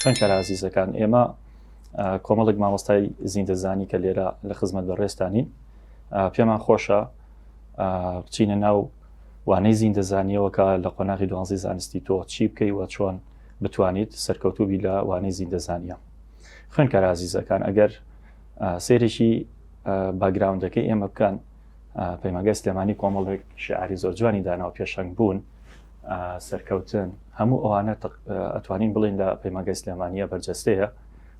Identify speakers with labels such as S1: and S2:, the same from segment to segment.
S1: خوێنکار ئازیزەکان ئێمە کۆمەڵێک مامۆستای زیندەزانی کە لێرە لە خزمەت بە ڕێستانین پێمان خۆشە بچینە ناو وانەی زیندەزانیەوەکە لە قۆناغی دوانزی زانستی تۆ چی بکەی وە چۆن بتوانیت سەرکەوتوبی لە وانەی زیندەزانیە خوێنکار ئازیزەکان ئەگەر سێرێکی باگراوندەکەی ئێمە بکەن پەیماگە سلێمانی کۆمەڵێک شعری زۆر جوانی داناو پێشنگ بوون سەرکەوتن هەموو ئەوانە ئەتوانین بڵین لە پەیماگەی سلێمانە بەرجەستەیە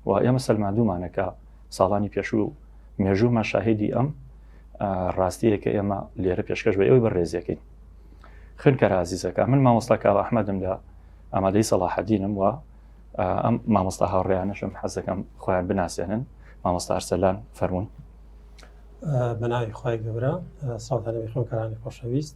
S1: و ئێمە سەلماندومانەکە ساڵانی پێشوو مێژوومە شاهدی ئەم ڕاستیە کە ئێمە لێرە پێشکەش بە ئەوی بەڕێزیەکەین خنکە رازیزەکە من مامۆستا کاوە ئەحمەدم لە ئامادەی سەڵاحەدینم وە ئەم مامۆستا هاوڕێیانەشم حەزەکەم خۆیان بناسێنن مامۆستا ئەرسەلان فەرمونون
S2: بەناوی خی گەورە ساڵدانەوەی خۆکەرانی خۆشەویست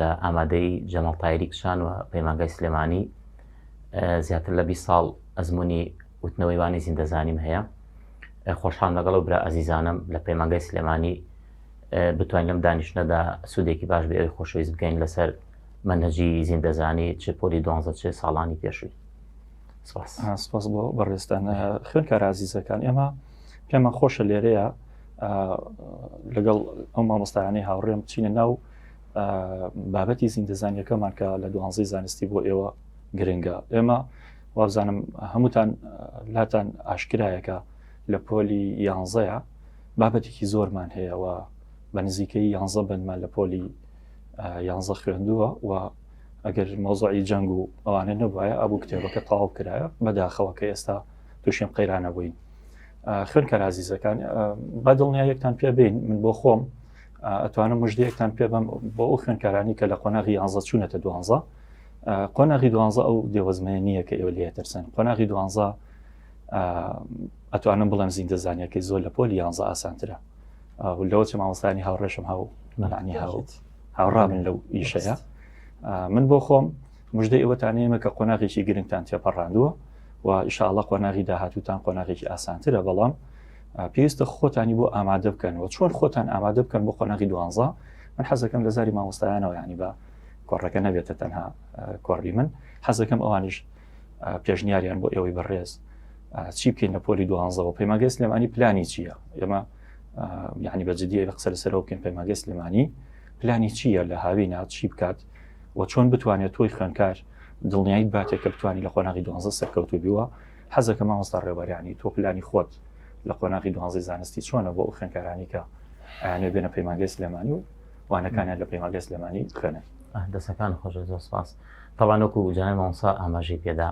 S3: لە ئامادەی جەمەڵ تایری کچان و پەیمانگای سلێمانی زیاتر لە 20 ساڵ ئەزمموی وتنەوەی وانی زیندەزانیم هەیە خۆشحان لەگەڵ و برا ئازیزانم لە پەیمانگای سلێمانی بتوانین لەم دانیشتنەدا سوودێکی باش بێ ئەوی خۆشەویست بکەین لەسەر منهجی زیندەزانی چ پۆلی دوانزە چێ ساڵانی پێشووی
S1: سپاس بۆ بەڕێزتان خوێنکارازیزەکان ئێمە پێمان خۆشە لێرەیە لەگەڵ ئەو مامۆستایانەی هاوڕێم چینە ناو بابەتی زیندەزانیەکەمان کە لە دوانزی زانستی بۆ ئێوە گرنگە ئێمە وابزانم هەمووتان لاتان ئاشکرایەکە لە پۆلی یانزەیە بابەتێکی زۆرمان هەیە و بە نزیکەی یانزە بنمان لە پۆلی یانزە خوێندووە و ئەگەر مۆزعی جەنگ و ئەوانە نەبواە ئەبوو کتێبەکە تاو کرایە بەداخەوە کە ئێستا تووشێن قەیرانە بووین خوێنکەر عزیزەکان بە دڵنیایەکتان پێ بین من بۆ خۆم ئەتوانم مژدەیەکتان پێ بم بۆ ئەو خوێنکارانی کە لە قۆناغی یانزە چوونەتە دوانزە قۆناغی دوانزە ئەو دێوەزمەیە نییە کە ئێوە لێ ترسن قۆناغی دوانزە ئەتوانم بڵێم زیندەزانیەکەی زۆر لە پۆلی یانزە ئاسانترە لەوە چ مامۆستانی هاوڕێشم هاو مەلانی هاوت هاوڕامن لەو ئیشەیە من بۆ خۆم مژدەی ئەوەتان هەیە کە قۆناغێکی گرنگتان تێپەڕاندووە و ئیشاڵە قۆناغی داهاتوتان قۆناغێکی ئاسانترە بەڵام پێویستە خۆتانی بۆ ئامادە بکەنەوە چۆن خۆتان ئامادە بکەن بۆ قۆناغی دوانزە من حەزەکەم لە زاری مامۆستایانەوە ینی بە کۆڕەکە نەبێتە تەنها کۆڕی من حەزەکەم ئەوانیش پێشنیاریان بۆ ئێوەی بەڕێز چی بکەین لە پۆلی دوانزەوە پەیماگە سلێمانی پلانی چییە ئێمە یعنی بەجددی قسە لەسەرەوە بکەین پەیماگە سلێمانی پلانی چییە لە هاوی ناوچی بکات و چۆن بتوانێت تۆی خوێنکار دڵنیایت باتێک کە بتوانانی لە قۆناغی دوانزە سەرکەوتو بیوە حەزەکە مامۆستا ڕێبەرانی تۆ پلانی خۆت لە قۆناغی دوانزی زانستی چۆنە بۆ ئەو خوێنکارانی کە ئەیانێ بێنە پەیمانگەی سلێمانی و وانەکانیان لە پەیمانگەی سلێمانی خوێنن دەسەکان خۆش
S3: زۆر سپاس تەوانۆکو جای مامۆسا ئاماژەی پێدا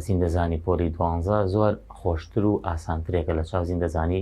S3: زیندەزانی پۆلی دوانزە زۆر خۆشتر و ئاسانترێکە لە چاو زیندەزانی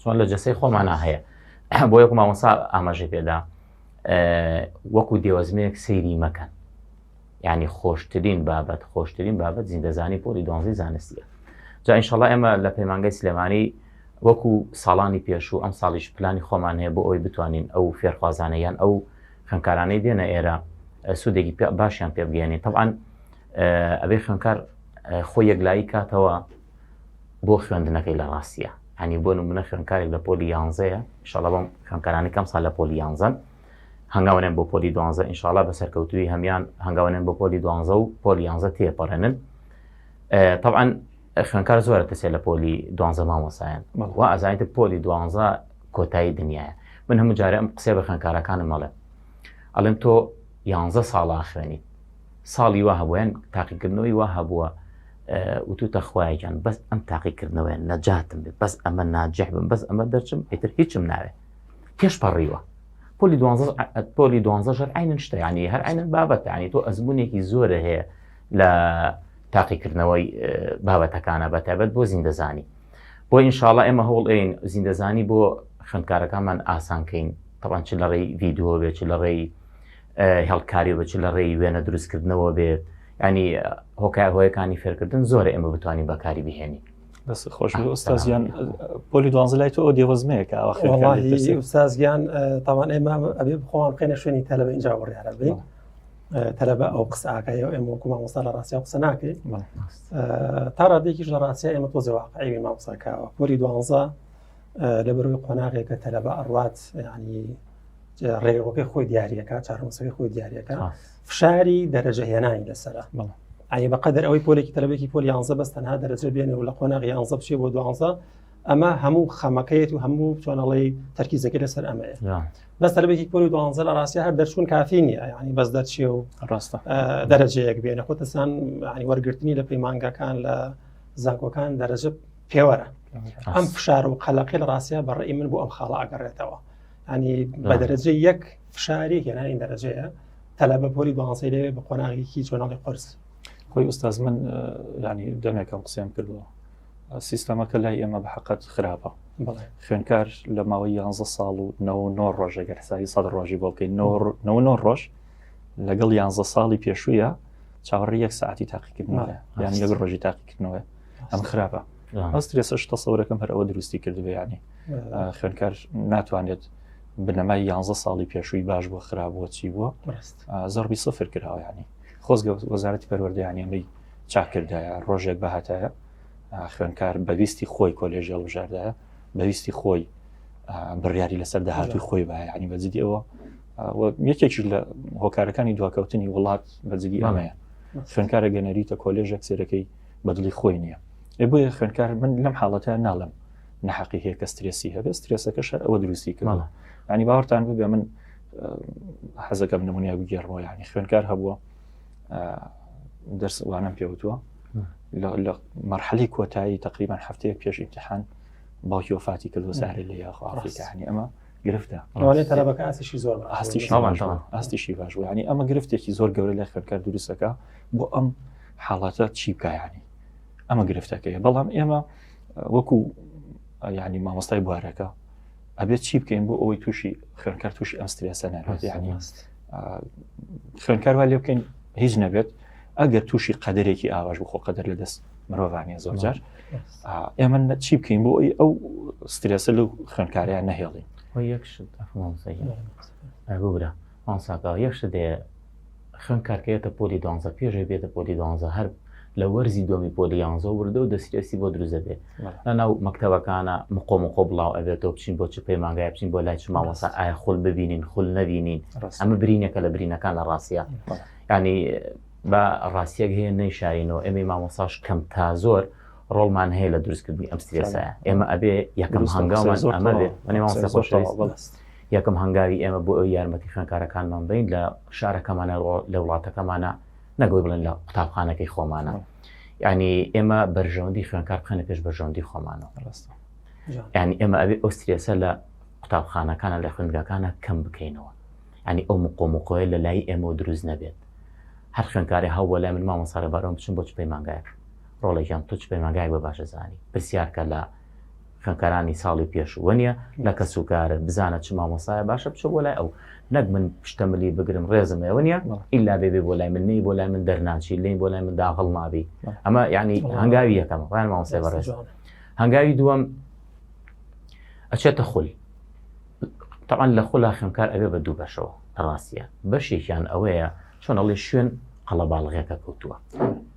S3: چۆن لە جەستەی خۆمانا هەیە بۆ یەک مامۆسا ئاماژەی پێدا وەکو دێوەزمێک سەیری مەکەن ینی خۆشترین بابەت خۆشترین بابەت زیندەزانی پۆلی دۆنزی زانستیە جا ئینشەڵا ئێمە لە پەیمانگەی سلێمانی وەکو ساڵانی پێشوو ئەم ساڵیش پلانی خۆمان هەیە بۆ ئەوی بتوانین ئەو فێرخوازانە یان ئەو خوێنکارانەی دێنە ئێرە سوودێکی باشیان پێ بگەێنین تەعاان ئەبێ خوێنکار خۆی یەکلایی کاتەوە بۆ خوێندنەکەی لە ڕاستیە هەنی بۆ نمونە خوێنکارێک لە پۆلی یانزەیە شڵە بەم خوێنکارانی کەم سا لە پۆلی یانزەن هەنگاوێن بۆ پۆلی دوانزە ئینشاالله بە سەرکەوتوی هەمان هەنگاوێن بۆ پۆلی دوانزە و پۆلی یانزە تێپەڕێنن طبعا خوێنکار زۆرە تەسێ لە پۆلی دوانزە مامۆسایەن و ئازانیت پۆلی دوانزە کۆتایی دنیاە من هەموو جارە ئەم قسێ بە خوێنکارەکانم مەڵێ ئەڵێن تۆ یانزە ساڵا خوێنیت ساڵی وا هەبووە یان تاقیکردنەوەی وا هەبووە وتوتە خوایە گیان بەس ئەم تاقیکردنەوەیە نەجاتم بێت بەس ئەمە ناجح بم بەس ئەمە دەرچم ئیتر هیچم ناوێت پێش پەڕیوە پۆلی دوانزە پۆلی دوانزە ژەر عینن شتە ینی هەر عینەن بابەت ینی تۆ ئەزمونێکی زۆرە هەیە لە تاقیکردنەوەی بابەتەکانە بە تایبەت بۆ زیندەزانی بۆ ئینشاالله ئێمە هەوڵ ئەین زیندەزانی بۆ خوێندکارەکانمان ئاسانکەین تەوان چ لە ڕێی ڤیددیو بێت چ لە ڕێی هێڵکاری بچ لە ڕێی وێنە دروستکردنەوە بێت ینی هۆکار هۆیەکانی فێرکردن زۆر ئێمە بتوانین بەکاری بهێنین بەس خۆش
S1: ئۆستازیان پۆلی دوانزە لای تۆ دێوەزمەیەکە ئەوسازگیان
S2: تاوان ئێمە ئەبێ بخۆوان بخێنە شوێنی تەلەبە اینجا وڕیارە بین تەلەبە ئەو قسەکەی و ئێمە وکومان وستا لە ڕاستیا قسە ناکەی تا ڕادێکیش لە ڕاستیا ئێمە تۆ زەواقعی مامساکەەوە پۆلی دوانزە لەبەروی قۆناغێکە تەلەبە ئەڕات ینی ڕێگەەکەی خۆی دیارەکە چارمەسەکەی خۆی دیارەکە فشاری دەرەجە هێنانی لەسرە ئاە بەقدر ئەوەی پۆلێکی تەلبێکی پۆل یانزە بەس تەنها دەرەجە بێنێ و لە قۆناغ یانزە بچێ بۆ دوانزە ئەمە هەموو خەمەکەیەت و هەموو چۆنەڵی تەرکیزەکە لەسەر ئەمەیە بەس تەلبێکی پۆل و دوانزە لە ڕاستە هەر دەرچوون کافی نیە ینی بەس دەرچێ و ڕاستە
S1: دەرەجەیەک
S2: بێنە خۆتەسان ینی وەرگرتنی لە پەیمانگەکان لە زانکۆکان دەرەجە پێوەرە ئەم فشار و قەلەقی لە ڕاستە بەڕێ من بۆ ئەم خاڵە ئەگەڕێتەوە ینی بە دەرەجە یەک فشاری هێنانی دەرەجەیە تەلا بە پۆلی دوانسی لێ بە قۆناغێکی جۆناڵی قرس خۆی ئوستاز
S1: من ینی دەمێکم قسەم کردەوە سیستەمەکە لای ئێمە بە حقت خراپە خوێنکار لە ماوەی 11 ساڵ و 99 ڕۆژێگەر سای سەد ڕۆژی بۆ بکەین 99 ڕۆژ لەگەڵ 11 ساڵی پێشوویە چاوەڕی یەک ساعتی تاقیکردنەوە یان لەگە ڕۆژی تاقیکردنەوە ئەم خراپە ئەسترێسە شتە سەورەکەم هەر ئەوە دروستی کردبێ ینی خوێنکار ناتوانێت بنەمای یانزە ساڵی پێشووی باش بۆ خراپ بۆ چی بووە زەربی سفر کراوەیانی خۆزگە وەزارەتی پەروەردەیانی ئەمەی چاکردایە ڕۆژێک بەهاتایە خوێنکار بەویستی خۆی کۆلێژ هەڵبژاردایە بەویستی خۆی بڕیاری لەسەر داهاتوی خۆی بایانی بەجددی ئەوە یەکێکی لە هۆکارەکانی دواکەوتنی وڵات بەجددی ئەمەیە خوێنکارە گەنەریتە کۆلێژێک سێرەکەی بەدڵی خۆی نییە ئێ بۆیە خوێنکار من لەم حاڵەتە ناڵم نەحقی هەیە کە سترێسی هەبێت سترێسەکەش ئەوە دروستی کردەوە ینی باوەڕتان ببێ من حەزەکەم نمونیا بگێڕەوە ینی خوێنکار هەبووە دەرسوانم پێوتووە لە مەرحەلی کۆتایی تقریبان هەفتەیە پێش امتحان باوکی وفاتی کردو زارێ لە یاخواڕفیکانی ئەمە گرفتە تەلەبەکە
S2: ئاسیشی زۆر
S1: ئاستیشی باش ینی ئەمە گرفتێکی زۆر گەورە لە خوێنکار دروستەکە بۆ ئەم حاڵەتە چی بکایانی ئەمە گرفتەکەی بەڵام ئێمە وەکو یعنی مامۆستای بوارەکە ئەبێت چی بکەین بۆ ئەوەی تووشی خوێنکار تووشی ئەم سترێسە نەبێت یعنی خوێنکار وا لێ بکەین هیچ نەبێت ئەگەر تووشی قەدرێکی ئاواش بخۆ قەدەر لە دەست مرۆڤانە زۆرجار ئێمە چی بکەین بۆ ئەوی ئەو سترێسە لەو خوێنکاریان نەهێڵین یەکشت ئەفۆنسەیە
S3: ئەبوورە ئەنساکە یەکشت دێ خوێندکار کە یەتە پۆلی دوانزە پێش ئەوی بێتە پۆلی دوانزە هەر لە وەرزی دووەمی پۆلی یانزە وردە و دەسترێسی بۆ دروست دەبێت لە ناو مەکتەبەکانە مقۆ مقۆ بڵاو ئەبێتەوە بچین بۆ چ پەیمانگای بچین بۆ لای چ مامۆسا ئایا خول ببینین خول نەبینین ئەمە برینێکە لە برینەکان لە ڕاستە ینی بە ڕاستیەک هەیە نەیشارینەوە ئەمی مامۆساش کەم تا زۆر ڕۆڵمان هەیە لە دروستکردنی ئەم سترێسایە ئێمە ئەبێ یەکەم هەنگاومان ئەمە بێت منێ مامۆستا خۆشەویست یەکەم هەنگاوی ئێمە بۆ ئەوەی یارمەتی خوێندکارەکانمان بدەین لە شارەکەمانە لە وڵاتەکەمانە نەک ئەوەی بڵێن لە قوتابخانەکەی خۆمانە یعنی ئێمە بەرژەوەندی خوێندکار بخەنە پێش بەرژەوەندی خۆمانەوە ڕاستە یعنی ئێمە ئەوێ ئەو سترێسە لە قوتابخانەکانە لە خوێندگەکانە کەم بکەینەوە ینی ئەو مقۆمقۆیە لە لای ئێمە دروست نەبێت هەر خوێندکاری هەوە لای من مامە ساڕێبارۆم بچم بۆ چ پەیمانگایەک ڕۆڵێکیان تۆ چ پەیمانگایەک بە باشە زانی پرسیارکە لە خوێنکارانی ساڵی پێش وەنیە لە کەس و کارت بزانە چ مامۆسایە باشە بچۆ بۆ لای ئەو نەک من پشتە ملی بگرم ڕێزم ئێوە نیە ئللا بێبێ بۆ لای من نەی بۆ لای من دەرناچی لێی بۆ لای من داغڵ نابی ئەمە یعنی هەنگاوی یەکەم ڕیان مامۆسای بەڕێز هەنگاوی دووەم ئەچێتە خول تەوان لە خۆلا خوێنکار ئەوێ بە دوو بەشەوە ڕاستە بەشێکیان ئەوەیە چۆنەڵی شوێن قەڵەباڵغێکە کەوتووە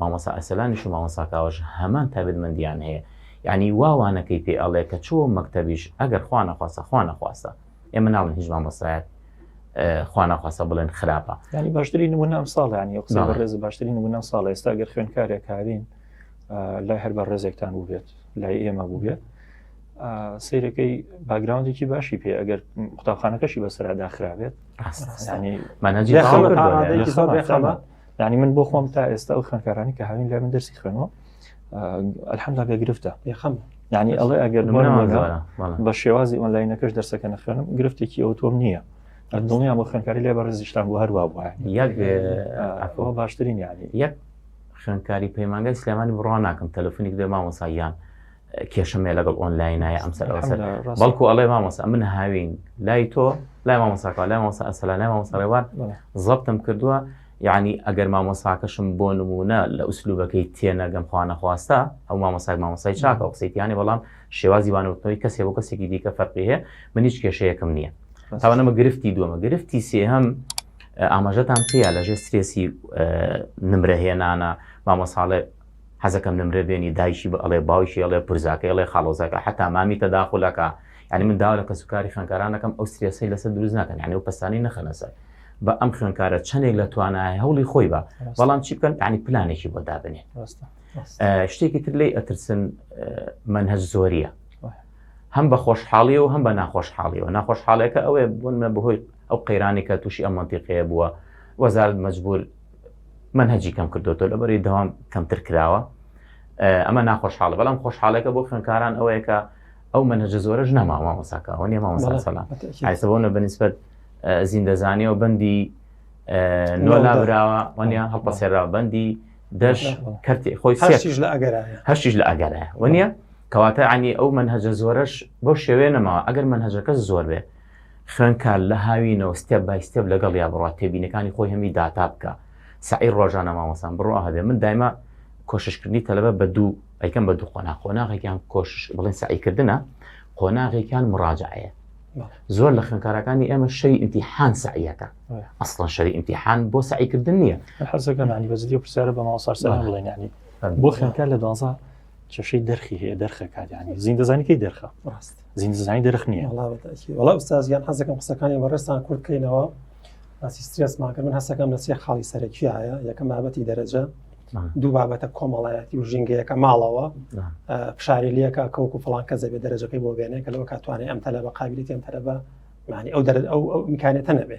S3: مامۆستا ئەرسەلانیش و مامۆستا کاوەش هەمان تایبەتمەندیان هەیە یەعنی وا وانەکەی پێ ئەڵێ کە چۆ مەکتەبیش ئەگەر خوا نەخواستە خوا نەخواستە ئێمە ناڵێن هیچ مامۆستایەک خوا نەخواستە بڵێن خراپە ینی باشتری نمونە
S1: ئەم ساڵ ینی قسە ڕێز باشتری نمونە ساڵ ئێستا گەر خوێنکارێک کارین لای هەر بە ڕێزێکتان بووبێت لای ئێمە بووبێت سیرەکەی باگراوندێکی باشی پێ ئەگەر قوتابخانەکەشی بەسەردا خراوێت ڕاستانی مانەجی یعنی من بۆ خۆم تا ئێستا ئەو خوێنکارانی کە هاوین لای من دەرسی خوێنەوە ئەلحەمدا بێ گرفتە یخەم یعنی
S2: ئەڵێ ئەگەر
S1: بە شێوازی ئۆنلاینەکەش دەرسەکە نەخوێنم گرفتێکی ئەو تۆم نییە دڵنیام بۆ خوێنکاری لێ بەڕێزیشتان بۆ هەروە بووە یەک باشترین یعنی یەک
S3: خوێنکاری پەیمانگای سلێمانی بڕوا ناکەم تەلەفۆنی بێ مامۆساییان کێشەمێ لەگەڵ ئۆنلاینایە ئەم سەر بەڵکو ئەڵێ مامۆسا من هاوین لای تۆ لای مامۆساکە لای مامۆسا ئەسەلا لای مامۆسا ڕێوان زەبتم کردووە یعنی ئەگەر مامۆساکەشم بۆ نمونە لە ئوسلوبەکەی تێنەگەم خوانە خواستە ئەو مامۆساک مامۆسای چاکە قسەیتیانی بەڵام شێوازی وانوتنەوەی کەسێ بۆ کەسێکی دیکە فەرقی هەیە من هیچ کێشەیەکم نییە تاوانەمە گرفتی دووەمە گرفتی سێهەم ئاماژەتان پێیا لەژێ سترێسی نمرەهێنانە مامۆساڵێ حەزەکەم نمرە بێنی دایکی بە ئەڵێ باوکی ئەڵێ پرزاکەی ئەڵێ خاڵۆزاکە حەتا مامی تەداخولەکا یانی من داوا لە کەسوکاری خوێنکاران دەکەم ئەو سترێسەی لەسەر دروست ناکەن یانی ئەو پەستانی نەخەنە سەر بە ئەم خوێنکارە چەندێک لە توانای هەوڵی خۆی بە بەڵام چی بکەن یانی پلانێکی بۆ دابنێ شتێکی تر لی ئەترسن منهج زۆریە هەم بە خۆشحاڵی و هەم بە ناخۆشحاڵی و ناخۆشحاڵەکە ئەوێ بوونمە بەهۆی ئەو قەیرانی کە تووشی ئەم منتیقەیە بووە وەزارت مەجبور مەنهەجی کەم کردوەوە لە بەری دەوام کەمتر کراوە ئەمە ناخۆشحاڵە بەڵام خۆشحاڵەکە بۆ خوێنکاران ئەوەیەکە ئەو منهجە زۆرەش نەما مامۆساکەەوە نیە مامۆساسەلامسەبوونە بەنیسبەت زیندەزانانی و بەندی نۆلا براوە وەنیا هەڵپەسێرا بەندی دەش کەرتی خۆی هەشتیش لە ئەگەر هەشتیش لە ئەگەرە وەنیە کەواتە عنی ئەو منهجە زۆرەش بۆ شێوێنەمەوە ئەگەر منهجەکە زۆر بێت خوێنکە لە هاوینەوە ستێپ بای ستێپ لەگەڵیا بڕوا تێبینەکانی خۆی هەمی داتا بکە سەعی ڕۆژانە مامۆسان بڕوا هەبێ من دایما کۆششکردنی تەلەبە بە دوو ئەیکەم بە دوو قۆنا قۆناغێکیان کۆشش بڵێن سەعیکردنە قۆناغێکیان مراجعەیە زۆر لە خوێنکارەکانی ئێمە شەوی ئیمتیحان سعیەکە ئەسڵەن شەوی ئیمتیحان بۆ سعیکردن نییە حەزەکەمانی بەزدی
S1: پرسیارە بە ماوەسار سەر بڵێنانی بۆ خوێنکار لە دوازە کێشەی دەرخی هەیە دەرخەکات یانی زین دەزانی کەی دەرخە ڕاست زین دەزانی دەرخ نییە وڵا ئوستازیان
S2: حەزەکەم قسەکانی بەڕێستان کورتکەینەوە باسی سترێس ماکە من هەسەکەم لە سێ خاڵی سەرەکی هەیە یەکەم بابەتی دەرەجە دوو بابەتە کۆمەڵایەتی و ژینگەیەکە ماڵەوە فشاری لەکە کەوکو فڵان کە زەبێ دەرەجەکەی بۆ بێنێ کە لەوە کاتوانێ ئەم تەلە بە قابلیتی ئەم تەرەبە معنی ئەو دەرە ئەو ئەو میکانێتە نەبێ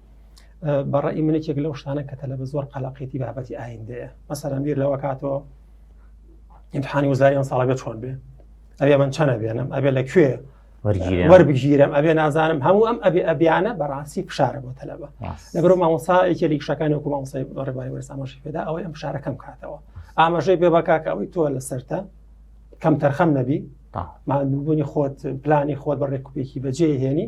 S2: بەڕی منێکێک لەو شتانە کە تەلە بە زۆر قەلقێتی بابەتی ئایندەیە مەسەرم بیر لەوە کاتەوە امتحانی وزاری ئەم ساڵە بێت چۆن بێ ئەبێ من چەنە بێنم ئەبێ لە کوێ وەربگیرم ئەبێ نازانم هەموو ئەم ئەبێ ئەبیانە بەڕاستی فشارە بۆ تەلەبە لەگەرو مامۆسا یەکێ لە شەکانی وکو مامۆسای ڕێباری وەرسامەشی پێدا ئەوەی ئەم شارەکەم کاتەوە ئاماژەی بێ بەکاکە ئەوەی تۆ لە سەرتە کەم تەرخەم نەبی مادووبوونی خۆت پلانی خۆت بە ڕێکوپێکی بەجێ هێنی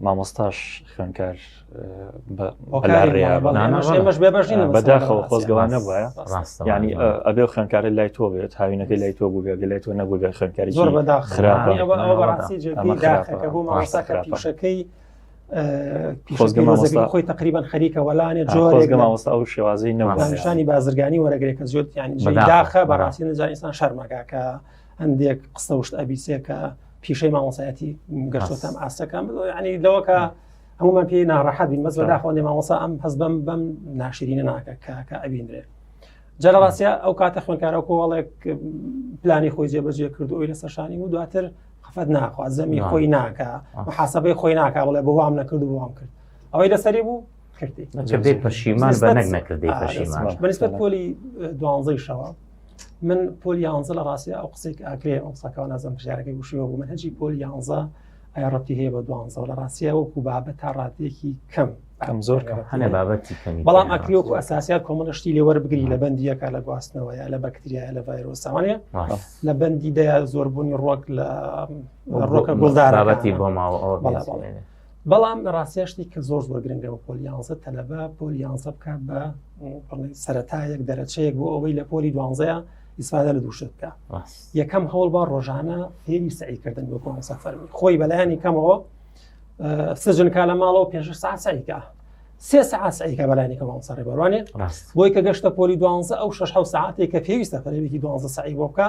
S1: مامۆستاش خوێنکار بەش بەداخەوە خۆزگەوان نەبە ینی ئەبێ خوێنکارە لای تۆ بێت هاوینەکە لای تۆ بوو بێگە لای تۆ نەبوو بێ خوێنکاری زۆر بەدا
S2: خراپەکەی خۆی تقریبان خەریکە وەلانێ جۆرێک مامۆستا ئەو
S1: شێوازی نەوانشانی بازرگانی
S2: وەرەگرێکە زۆرتیانی داخە بەڕاستی نزانستان شەرمەکە کە هەندێک قسە وشت ئەبیسێکە پیشەی مامۆسایەتی گەشتۆتان ئاستەکان ینی لەوەکە هەمومان پێی ناڕەحەت بین مەز داخۆێ مامۆسا ئەم هەز بەم بەم ناشرینە ناکە کاکە ئەبیندرێ جا لە ڕاستە ئەو کاتە خوێنکارە کۆڵێک پلانی خۆی جێبەجێ کرد ئەوی لە سەرشانی و دواتر خفەت ناخوا زەمی خۆی ناکە حسابەی خۆی ناکە بڵێ بۆ وام نەکرد و وام کرد ئەوەی لەسەری بوو کردی پەشیمان
S3: بە نەک نەکردی پەشیمان بەنسبەت پۆلی
S2: دوانزەی شەوە من پۆل یانزە لە ڕاستی ئەو قسێک ئاکرێ ئەو ساکەوە نازم پرسیارەکەی وشیەوە بوو من هەجی پۆل یانزە ڕەتی هەیە بە دوانزە لە ڕاستە وەکو بابە تا ڕاتێکی کەم ئەم زۆر هەنێ
S1: بابەتی
S3: کەمی بەڵام ئەکری وەکو ئەساسیا
S2: کۆمەڵە شتی لێ وەربگری لە بەندیەکە لە گواستنەوەیە لە بەکتریا لە ڤایرۆساوانە لە بەندی دەیا زۆربوونی ڕۆک لە ڕۆکە گوڵدارەتی بۆ ماوە
S3: ئەوە بەڵام
S2: لە ڕاستیا شتی کە زۆر زۆر گرنگە بە پۆل یانزە تەلەبە پۆل یانزە بکات بە سەتایەک دەرەچەیەک بۆ ئەوەی لە پۆلی دوانزەیە ئیسفادە لە دووشت بکە یەکەم هەوڵ با ڕۆژانە فێری سعیکردن بۆ کۆنسە فەرمی خۆی بەلایانی کەمەوە سجن کا لە ماڵەوە پێش سا سعیکە سێ سعات سعیکە بەلایانی کەمەوە سەڕێ بەڕوانێ بۆی کە گەشتە پۆلی دوانزە ئەو شش حو ساعتێک کە پێویستە فەرێکی دوانزە سعی بۆ بکە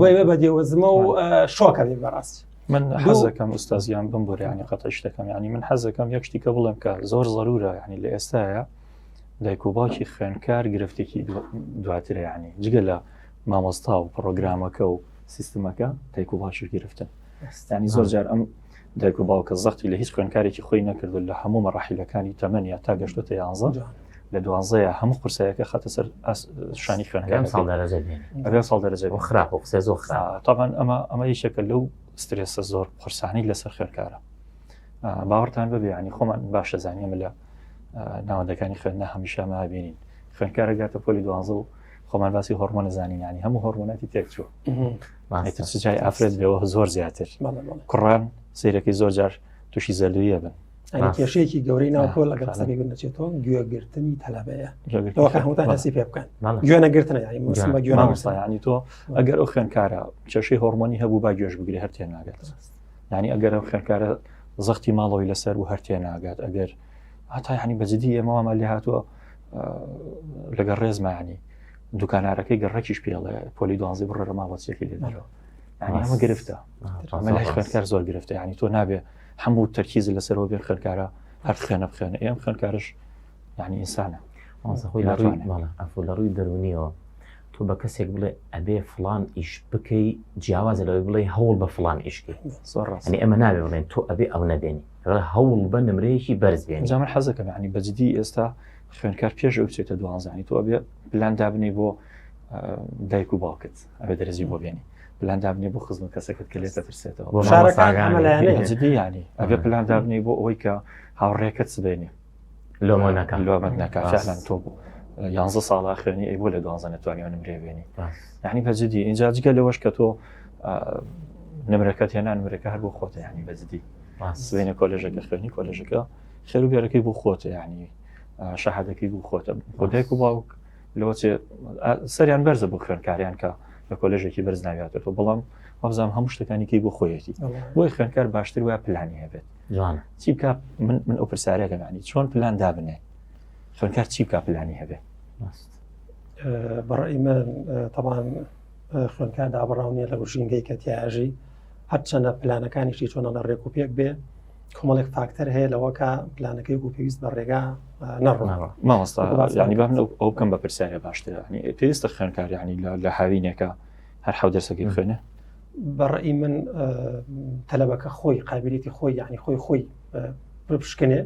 S2: بۆی بە بەدێوەزمە و شۆکە بێ بەڕاست من حەزەکەم
S1: ئوستازیان بم بۆ ینی قەتە شتەکەم ینی من حەزەکەم یەک شتی کە بڵێم کە زۆر زەرورە ینی لە ئێستاە دایک و باوکی خوێنکار گرفتێکی دواترە ینی جگە لە مامۆستا و پرۆگرامەکە و سیستمەکە دایک و باشش گرفتن ستانی زۆر جار ئەم دایک و باوکە زەختی لە هیچ خوێنکارێکی خۆی نەکردو لە هەموو مەڕاحیلەکانی تەمەنیا تا گەشتۆتە یانزە لە دوانزەیە هەموو قورسایەکە خەتە سەر شانی خوێنگەم ساڵ دەرەجە
S3: ئەگەر ساڵ دەرەجە
S1: بۆ خراپ و قسە زۆر خراپ
S3: تاوان ئەمە ئەمە
S1: یشەکە لەو سترێسە زۆر قورسانی لەسەر خوێنکارە باوەڕتان بەبێ ینی خۆمان باشە زانیم لە ناوەندەکانی خوێندنا هەمیشە مابینین خوێنکارە گاتە پۆلی دوانزە و خۆمان باسی هۆرمۆنە زانینانی هەموو هۆرمۆناتی تێکچوو جای ئافرەت بێەوە زۆر زیاتر کوڕان سیرەکەی زۆر جار تووشی زەلویە بن کێشەیەکی گەورەی
S2: ناوکۆ لەگەڵ قسەی بن دەچێتەوە گوێگرتنی تەلەبەیە هەمووتان هەسی پێ بکەن گوێنەگرتنیانی تۆ ئەگەر
S1: ئەو خوێنکارە کێشەی هۆرمۆنی هەبوو با گوێش بگری هەر تێ ناگات ینی ئەگەر ئەو خوێنکارە زەختی ماڵەوەی لەسەر و هەر تێ ناگات ئەگەر هەتا ینی بەجددی ئێمەوامە لێ هاتووە لەگەڵ ڕێزمانی دوکانارەکەی گەڕکیش پێڵێ پۆلی دوازی بڕێ ماوەچێکی لێدەرەوە ئەمە گرفتە ئەمە لای خوێنکار زۆر گرفتە ینی تۆ نابێ هەموو تەرکیز لەسەرەوە بێ خوێنکارە هەر خوێنە بخێنە ئێم خوێنکارش ینی ئینسانە خۆی
S3: لە ڕووی دەرونیەوە تۆ بە کەسێک بڵێ ئەبێ فلان ئیش بکەی جیاوازە لەوەی بڵێ هەوڵ بە فلان ئیشکی ڕاستی ئەمە ناوێ بڵێن تۆ ئەبێ ئەو نەبێنی هەوڵ بە نمرەیەکی بەرزێن جامە حەزەکەم ینی
S1: بەجددی ئێستا خوێنکار پێش ئەو چێتە دوانزانی تۆ بێ پلان دابنی بۆ دایک و باوکت ئەبێ دەرزی بۆ بێنی پلان دابنی بۆ خزم کەسەکەت کە لێ دەترسێتەوە ینی ئەبێ پلان دابنی بۆ ئەوەی کە هاوڕێکەت سبێنێ لۆمانەکە لۆمەت ناکەلان تۆ بوو یانزە ساڵا خوێنی ئەی بۆ لە دوانزە نەتوانانی نمرێ بێنی یعنی بەجددی اینجا جگە لەوەش کە تۆ نمرەکەت هێنان نمرەکە هەر بۆ خۆتە ینی بەجددی سوێنە کۆلێژەکە خوێنی کۆلێژەکە خێرو بێرەکەی بۆ خۆتە یعنی شەهادەکەی بوو خۆتە خۆدایک و باوک لەوە سەریان بەرزە بۆ خوێنکاریان کە لە کۆلژێکی بەرز ناویاتەوە بەڵام وەبزانام هەموو شتەکانیکەی بۆ خۆیەتی بۆی خوێنکار باشتر وە پلانی هەبێت جوان چی بکە من من ئەو پرسیارە گەمانی چۆن پلان دابنێ خوێنکار چی بکە پلانی هەبێت بەڕی
S2: من تەوان خوێنکار دابڕاونیە لە گوشینگەی کەتیاژی هەرچەندە پلانەکانیشی چۆنە لە ڕێک و پێک بێ کۆمەڵێک فاکتەر هەیە لەوەکە پلانەکەی و پێویست بە ڕێگا نەڕۆناوە مامۆستا
S1: ینی بام لەو ئەو بکەم بە پرسیارە باشترانی پێویستە خوێنکاریانی لە هاوینێکە هەر حەو دەرسەکەی خوێنە بەڕی
S2: من تەلەبەکە خۆی قابلێتی خۆی یعنی خۆی خۆی پشکنێ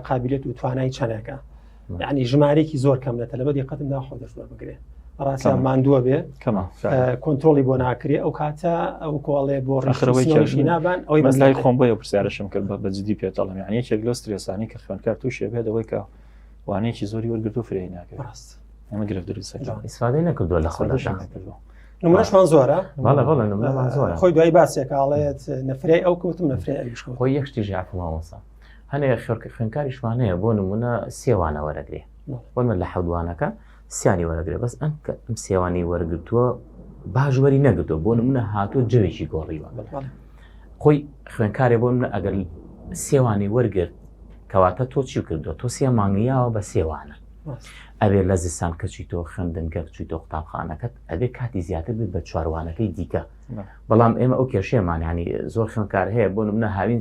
S2: قابلێت و توانای چەنەکە یعنی ژمارێکی زۆر کەم لە تەلبە دیقەتم ناخۆ دەست بەربگرێ ڕاستە ماندووە بێ کۆنتترۆلی بۆ ناکرێ ئەو کاتە ئەو کۆڵێ بۆ ڕخەوەی نابان ئەوی بەلای خۆم بۆیە پرسیارشم
S1: کرد بە بەجددی پێتەڵم یعنی یەکێک لۆ سترێسانی کە خوێنکار تووشێ بێت ئەوەی کە وانەیەکی زۆری وەرگرت و فرێ ناکە ڕاست ئەمە گرفت دروست ئیسفادەی نەکردووە لە
S3: خۆ دەشکردووە نمونەشمان
S2: زۆرە بەڵێ بەڵێ نمونەمان زۆرە
S3: خۆی دوای باسێکاڵێت
S2: نەفرەی ئەو کەوتم نەفرەی ئەویش خۆی یەکشتی
S3: ژیافماوەسا هەنێ خوێنکاریشمان هەیە بۆ نمونە سێوانە وەرەگرێ وەمە لە حەودوانەکە سیانی وەرەگرێ بەس ئەم ئەم سێوانی وەرگتووە باژوەری نەگرتو بۆ نمونە هاتو جەوێکی گۆڕیوە خۆی خوێنکارێ بۆ منە ئەگەر سێوانی وەرگرت کەواتە تۆ چی کردو تۆ سێ مانگیاوە بە سێوانە ئەوێ لە زستان کەچی تۆ خوێندن گەر چی تۆ قوتابخانەکەت ئەبێ کاتی زیاتر بێت بە چوارروانەکەی دیکە بەڵام ئێمە ئەو کێشێمانانی زۆر خوێنکار هەیە بۆ منە هاوین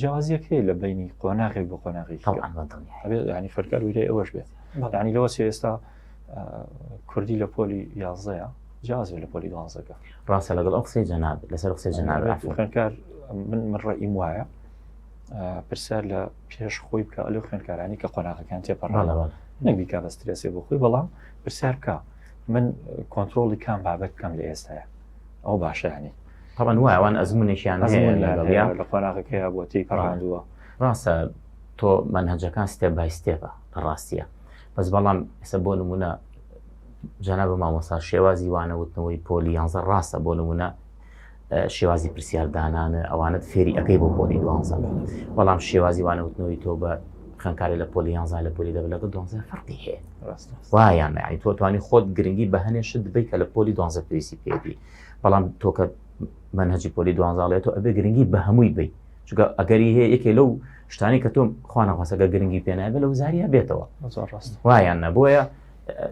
S1: جیاوازیەک هەیە لە بینی قۆناغێک بۆ قۆناغی ینی فەرکار ویرەی ئەوەش بێت ینی لەوە ئێستا کوردی لە پۆلی یازەیە جیازێ لە پۆلی دوازەکە ڕاستە لەگەڵ ئەو قسەی
S3: جەناب لەسەر قسەی جەناب خوێنکار
S1: من من ڕێیم وایە پرسیار لە پێش خۆی بکە لە خوێنکارانی کە قۆناغەکان تێپەڕەوە نەبیکا بەسترێسێ بۆ خۆی بەڵام پرسیار بکە من کۆنتترۆڵی کام بابەت بکەم لە ئێستاە ئەو باشیانی طبعا وایە ئەوان
S3: ئەزمونێکیان هەیە لە لەگەڵ یان لە
S1: قۆناغەکە هەیە بۆ تێی پەڕاندووە ڕاستە
S3: تۆ منهجەکان ستێپ بای ستێپە لە ڕاستیە بەس بەڵام ئێستا بۆ نمونە جانا بە مامۆستا شێوازی وانەوتنەوەی پۆلی یانزە ڕاستە بۆ نمونە شێوازی پرسیاردانانە ئەوانت فێری ئەەکەی بۆ پۆلی دوانزە بەڵام شێوازی وانەوتنەوەی تۆ بە خوێنکاری لە پۆلی یانزا لە پۆلی دە لەگە دۆنزە فەرقی هەیە وایان نعی تۆ توانی خۆت گرنگی بە هەنێ شت دبی کە لە پۆلی دۆنزە پێویستی پێبی بەڵام تۆکە منهجی پۆلی دوانزاڵێت و ئەبێ گرنگی بە هەمووی بی چگە ئەگەری هەیە یەکێ لەو شتانی کە تۆ خوانەخواسەکە گرنگی پێنابێ لە وزاریا بێتەوە وایان نەبووە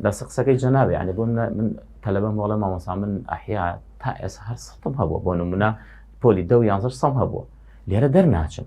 S3: لە سقسەکەی جەناوێ ینی بۆ من تەلبە مۆڵە مامەسا من ئەحیا تا ئێس هەر سەم هەبووە بۆ نمونە پۆلی دە یانزە سەم هەبووە لێرە دەرناچم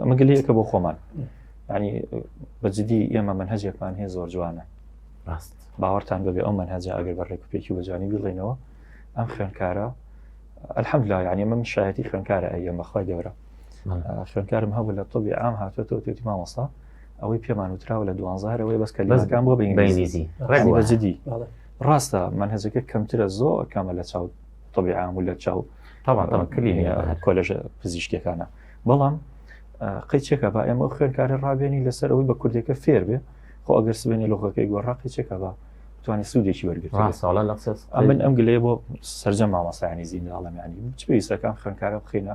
S1: ئەمە گەلەیەکە بۆ خۆمان ینی بەجددی ئێمە من هەجێکمان هەیە زۆر جوانە ڕاست باوەڕتان بەبێ ئەو من هەجا ئەگەر بە ڕێکوپێکی بەجوانی بڵێنەوە ئەم خوێنکارە ئەلحەم لا یعنی من شایەتی خوێنکارە ئەیە بەخوای گەورە خوێنکارم هەبوو لە تۆبی ئام هاتووە تۆ توێتی مامۆسا ئەوەی پێمان وتراوە لە دوانزارەوەی بەس کە لەزگان بۆ بەینگلیزی ڕێگوەجددی ڕاستە من هەزەکە کەمترە زۆر کامە لە چاوت طبی عام و لە چاو کۆلژ پزیشکەکانە بەڵام قەیچێکە با ئێمە خوێنکاری ڕابێنی لەسەر ئەوەی بە کوردێکە فێر بێ خۆ ئەگەر سبێنێ لۆخەکەی گۆڕا قەیچێکە بە توانانی سوودێکی وەرگرت ساڵە لە من ئەم گلەیە بۆ سرجە مامەسایانی زینداڵەمیانی چ پێویستەکان خوێنکارە بخینە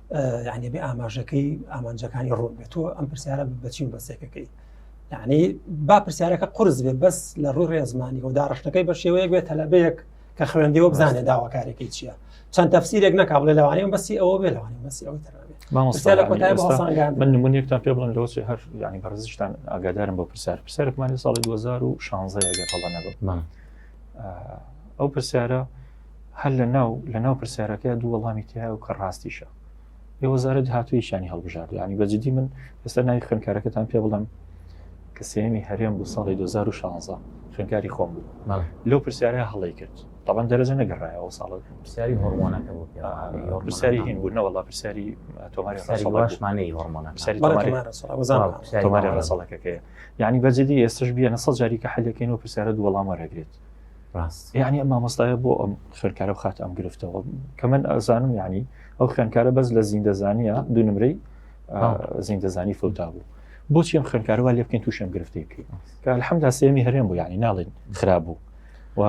S2: یعنی بێ ئاماژەکەی ئامانجەکانی ڕوون بێت تۆ ئەم پرسیارە بچین بەسێکەکەی یعنی با پرسیارەکە قرس بێ بەس لە ڕووی ڕێزمانی و داڕشتەکەی بە شێوەیە بێت تەلەبەیەک کە خوێندەوە بزانێت داواکارێکی چییە چەند تەفسیرێک نەکا بڵێ لەوانەیە بەسی ئەوە بێ لەوانێ بەسی ئەوەی تر
S1: من نمونێکتان پێ بڵم لەوە هەر ینی بەڕزیشتان ئاگادارم بۆ پرسیار پرسیارێکمانی ساڵی 2016 گەر هەڵە نەبم ئەو پرسیارە هەر لە ناو لە ناو پرسیارەکەی دوو وەڵامی تیا و کە ڕاستیشە ئێ وەزارەت هاتوویشانی هەڵبژارد ینی بەجددی من ئێستا ناوی خوێنکارەکەتان پێ بڵم کە سێمی هەرێم بۆ ساڵی 2016 خوێنکاری خۆم بوو لەو پرسیارە هەڵی کرد تاوان دەرەجە نەگەڕایەوە ساڵ پرسیاری
S3: هۆرمۆنەکە بۆ پرسیاری
S1: هین بوو نەوەڵا پرسیاری
S3: تۆمارشمانەی
S1: هۆرمۆنەکەسەڵەکەەکەی یعنی بەجددی ئێستش بیە نەسە جاریکە حلەکەین و پرسیارە دووەڵام وەرەگرێت ڕاست یعنی ئەم مامۆستایە بۆ ئەم خوێنکارە و خات ئەم گرفتەوە کە من ئەزانم ینی ئەو خوێنکارە بەس لە زیندەزانە دوو نمرەی زیندەزانی فوتا بوو بۆچی ئەم خوێنکارەوە لێ بکەین تووشم گرفتێکی کە الحمدا سێمی هەرێم بوو ینی ناڵین خراب بوو و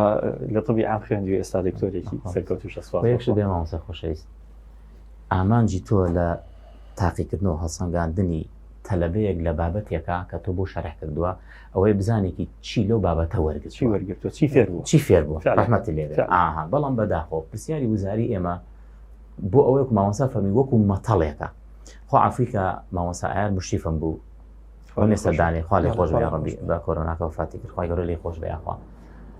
S1: لە طبی ئام خوێندی ئێستا دکتۆرێکی سەرکەوت و شەسوەش دێماوەسە
S3: خۆشەویست ئامانجی تۆ لە تاقیکردنەوە هەڵسەنگاندنی تەلبەیەک لە بابەتێکە کە تۆ بۆ شەرح کردووە ئەوەی بزانێکی چی لەو بابەتە وەرگرت چی وەرگرتوە چی فێر بوو چی
S1: فێر
S3: بوو ڕحمەتی لێ ئاها
S1: بەڵام
S3: بەداخۆ پرسیاری وزاری
S1: ئێمە
S3: بۆ ئەوەیەک ماوەسا فەرمی وەکو مەتەڵێکە خۆ ئەفریقا ماوەسا ئایر مشتیفم بوو ئەو نێسەدانێ خوا لێ خۆش بێ ڕەبی بە کۆرۆناکە فاتی کرد خوای گەورە لێ خۆش بێ یاخوا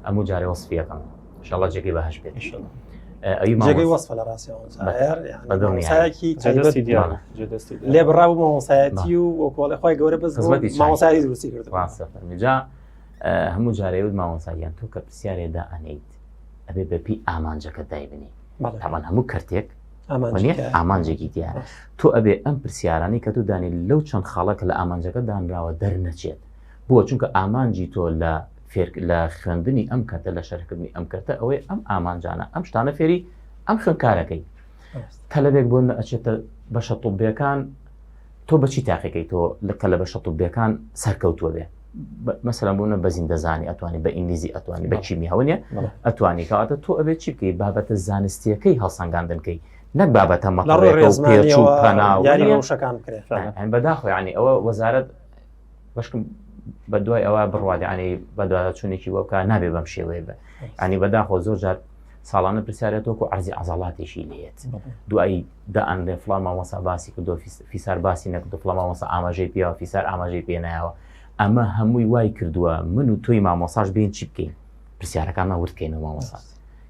S3: ئەموو جارێ وەسفیەکەم شڵە جێگەی بە هەش بێت جێگەی
S2: وەسفە لە ڕاستی لێ بڕاو مامۆسایەتی و وەکۆڵی خۆی گەورە بەس مامۆسایی دروستی کرد جا
S3: هەموو جارەیەوت مامۆساییان تۆ کە پرسیارێدا ئەنیت ئەبێ بەپی ئامانجەکە دایبنی تاوان هەموو کەرتێک ئامانجێکی دیە تۆ ئەبێ ئەم پرسیارانی کە تۆ دانی لەو چەند خاڵە کە لە ئامانجەکە دانراوە دەرنەچێت بۆ چونکە ئامانجی تۆ لە فێر لە خوێندنی ئەم کەرتە لە شەرحکردنی ئەم کەرتە ئەوەی ئەم ئامانجانە ئەم شتانە فێری ئەم خوێندکارەکەی تەلبێک بۆ ئەچێتە بەشە طوبەکان تۆ بەچی تاقیەکەی تۆ لە تەلە بەشە طوبەکان سەرکەوتووە بێ مەسەرم بوونە بەزین دەزانی ئەتوانی بە ئینگلیزی ئەتوانی بە چیمی هەونە ئەتوانی کاتە تۆ ئەبێت چی بکەی بابەتە زانستیەکەی هەڵسەنگاندنکەی نەک بابەتە مەڵڕێ ڕێزمانەوە یاری ڕەوشەکان
S2: بکرێت بەداخۆیانی
S3: ئەوە وەزارت بەشکم بە دوای ئەوە بڕوادانی بەدواداچوونێکی بۆ بکە نابێ بەم شێوەیە بە ئەنی بەداخۆ زۆر جار ساڵانە پرسیارەتۆک و عزی عزڵاتێکی لێت دوایی دائەنێ فلان مامەسا باسی کردۆ فیسار باسی نەکردو فلان مامەسا ئاماژەی پیاوە فیسار ئاماژەی پێنایەوە ئەمە هەمووی وای کردووە من و تۆی مامۆساش بین چی بکەین پرسیارەکانمان وردکەینەوە مامۆسا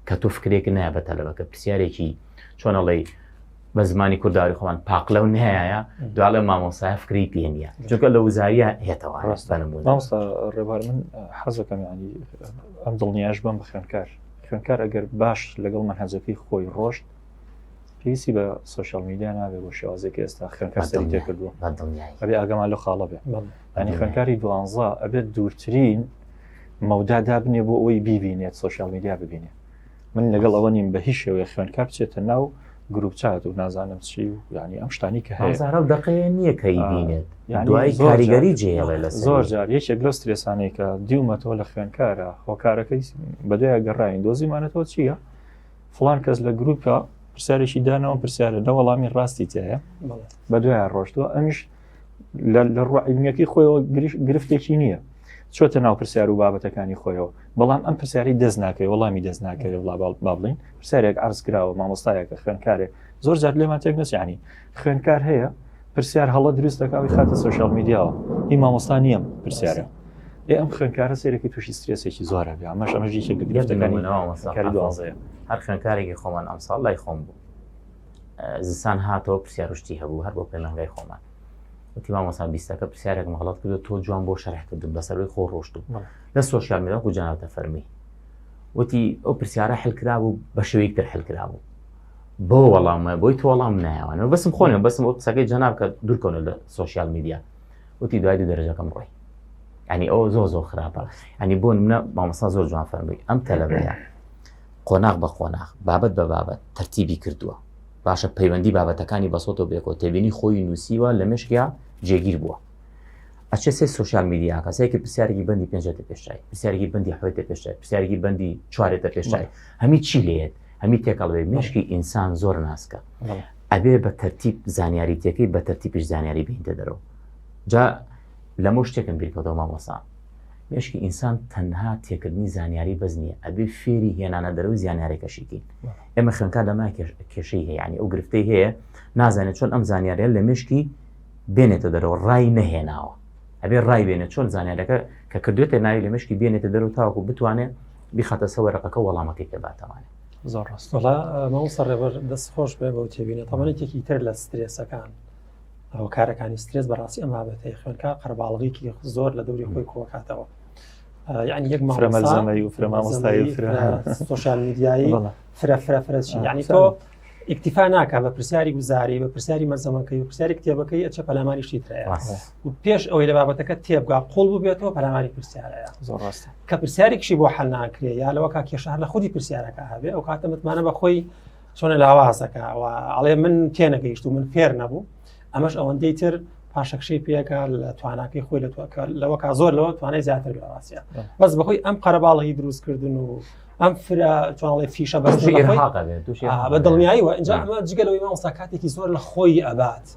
S3: کە تۆ فکرێک نایە بە تەلەبەکە پرسیارێکی چۆنەڵی بە زمانی کوردداری خۆمان پاقلەو نایە دوالێ مامۆسای فکری پێ نیە چونکە لە وزاریە هێتەوە ڕاستانەبوو
S1: ڕێبار من حەزەکەم ینی ئەم دڵنیاش بم بە خوێنکار خوێنکار ئەگەر باش لەگەڵ مەهەزەکەی خۆی ڕۆشت پێویستی بە سوۆشال میدیا نابێت بۆ شێوازێکی ئێستا خوێنکار سەری تێکردووە ئەبێ ئاگەمان لە خاڵە بێت ئەنی خوێنکاری دوانزە ئەبێت دوورترین مەودا دابنێ بۆ ئەوی بیبینێت سوۆشال میدیا ببینێت من لەگەڵ ئەوە نیم بە هیچ شێوەیە خوێنکار بچێتە ناو گروپ چات و نازانم چی و ینی ئەم شتانی کە هەزار و دقێ نییە کە
S3: بینێت دوای کاریگەری جێڵێ لە زۆر جار یەکێک لەو
S1: سترێسانەی کە دیومەتەوە لە خوێنکارە هۆکارەکەی بەدوای گەڕین دۆزیمانەتەوە چییە؟ فلان کەس لە گروپە پرسیارێکی دانەوە پرسیارە نە وەڵامی ڕاستی تایە بە دوای ڕۆشتووە ئەمیش لە ڕوە عیلمیەکەی خۆیەوە گرفتێکی نییە چۆتە ناو پرسیار و بابەتەکانی خۆیەوە بەڵام ئەم پرسیاری دەست ناکەی وەڵامی دەست ناکەێت وڵا بابڵین پرسیارێک ئارز کراوە مامۆستایەکە خوێنکارێک زۆر جار لێمان تێک نسیانی خوێنکار هەیە پرسیار هەڵە دروست دەکەوی خاتە سوۆشال میدیاوە هی مامۆستا نییە پرسیارە ئێ ئەم خوێنکارە سێرەکی تووشی سترێسێکی زۆرە بێ ئەمەش ئەمەژی شێک گرفتەکانی دوازەیە هەر خوێنکارێکی
S3: خۆمان ئەمساڵ لای خۆم بوو زستان هاتەوە پرسیار شتی هەبوو هەر بۆ پەیمانگای خۆمان وتی مامۆسا بیستەکە پرسیارێک مەڵەت کردو تۆ جوان بۆ شەرح کردن بەسەروی خۆ ڕۆشت و لە سۆشیال میداکو جاناتە فەرمی وتی ئەو پرسیارە حلکرا بوو بە شێوەیەک تر حلکرا بوو بۆ وەڵامە بۆی تۆ وەڵام نایوانەوە بەسم خۆنێ بەسم ئەو قسەکەی جەناب کە دوورکەونە لە سۆشیال میدیا وتی دوای دوو دەرەجەکەم ڕۆی ئەنی ئەو زۆ زۆ خراپە ئەنی بۆ منە مامەسا زۆر جوان فەرمووی ئەم تەلەبەیە قۆناغ بە قۆناغ، بابەت بە بابەت، تەرتیبی کردووە. باشە پەیوەندی بابەتەکانی بەسۆتەوە بێکۆ تێبینی خۆیی نووسیوە لە مێشکیا جێگیر بووە. ئەچێ سێ سوسیال میدیاکە سێکی پرسیارێکی بەندی پێنجێتە پێشای پرسیارێکی بەندی حوێتە پێشای پرسیارێکی بەندی چوارێتە پێشای هەمی چی لێت هەمی تێکەڵێ مێشکی ئینسان زۆر ناسکە ئەبێ بە تەرتیب زانیاریتەکەی بە تەرتیبش زانیاری بینتە دەرەوە جا لەمە شتێکم بیرکەوتەوە مامۆسا مێشکی ئینسان تەنها تێکردنی زانیاری بەس نیە ئەبێ فێری هێنانە دەرەوەی زیانارێکەشی کەین ئێمە خوێنکار لەما کێشەی هەیە ینی ئەو گرفتەی هەیە نازانێت چۆن ئەم زانیاریان لە مێشکی بێنێتە دەرەوە ڕای نەهێناوە ئەبێ ڕای بێنێت چۆن زانیارەکە کە کردوێتە ناوی لە مشکی بێنێتە دەرو تاوەکو بتوانێت بیخاتە سەوەرەقەکە وەڵامەکەی پێ باتەوانێت زۆر ڕاستڵا
S1: مەوسە
S2: ڕێبەر دەست خۆش بێ بەو تێبینە تەمەێکێکی تر لە سترێسەکان هۆکارەکانی سترێس بەڕاستی ئەم بابەتەی خوێنکە قەرباڵغێکی زۆر لە دەوری خۆی کۆکاتەوە یعنی یەک مامەزەمەی و فرەمامۆستایی
S1: سوۆشال
S2: میدیایی فرە فرە فرەچی ینی تۆ ئیکتیفا ناکە بە پرسیاری گوزاری بە پرسیاری مەزەمەکەی و پرسیاری کتێبەکەی ئەچە پەلاماری شتی ترەیە و پێش ئەوەی لە بابەتەکە تێبگا قۆڵ ببێتەوە پەلاماری پرسیارەیە زۆر ڕاست کە
S1: پرسیارێکشی بۆ
S2: حل ناکرێ یا لەوە کا کێشار لە خودی پرسیارەکە هەبێ ئەو کاتە متمانە بە خۆی چۆنە لاوازەکە ئەوە ئەڵێ من تێنەگەیشت و من فێر نەبوو ئەمەش ئەوەندەی تر پاشەکشەی پێەکە لە تواناکەی خۆی لە توکە لەوە کا زۆر لەوە توانای زیاتر لەڕاستە بەس بەهۆی ئەم قەرەباڵی دروستکردن و ئەم فرە چۆنڵی فیشە بەس بە دڵنیاییەوە ئەجا ئەمە جگەلەوەی مامۆستا کاتێکی زۆر لە خۆی ئەبات.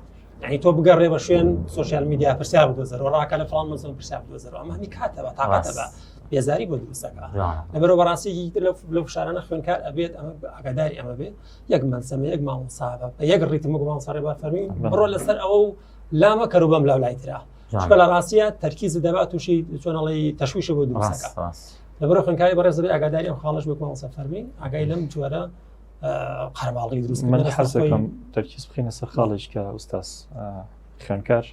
S2: یعنی تۆ بگەڕێ بە شوێن سوۆسیال میدیا پرسیار بدۆزەر و ڕاکە لە فڵان مەزم پرسیار بدۆزەر ئەمە هەمی کاتە بە تاقاتە بە بێزاری بۆ دروستەکە لەبەرەوە بەڕاستێکی تر لە فشارانە خوێنکار ئەبێت ئەمە ئاگاداری ئەمە بێت یەک مەسەمە یەک مامۆساابە بە یەک ڕیتمە مامۆساڕێ بە فەرمی بڕۆ لەسەر ئەوە و لامە کەرو بەم لاو لای تررا چکە لە ڕاستە تەرکیز دەبات تووشی چۆنەڵی تەشویشە بۆ دروستەکە لەبەر خوێنکاری بەڕێزەبێ ئاگاداری ئەم خاڵش بکەم سەفەرمی ئاگای لەم جوارە قەرماڵی دروست من حەزەکەم
S1: تەرکیز بخینە سەر خاڵێک کە ئوستاس خوێنکار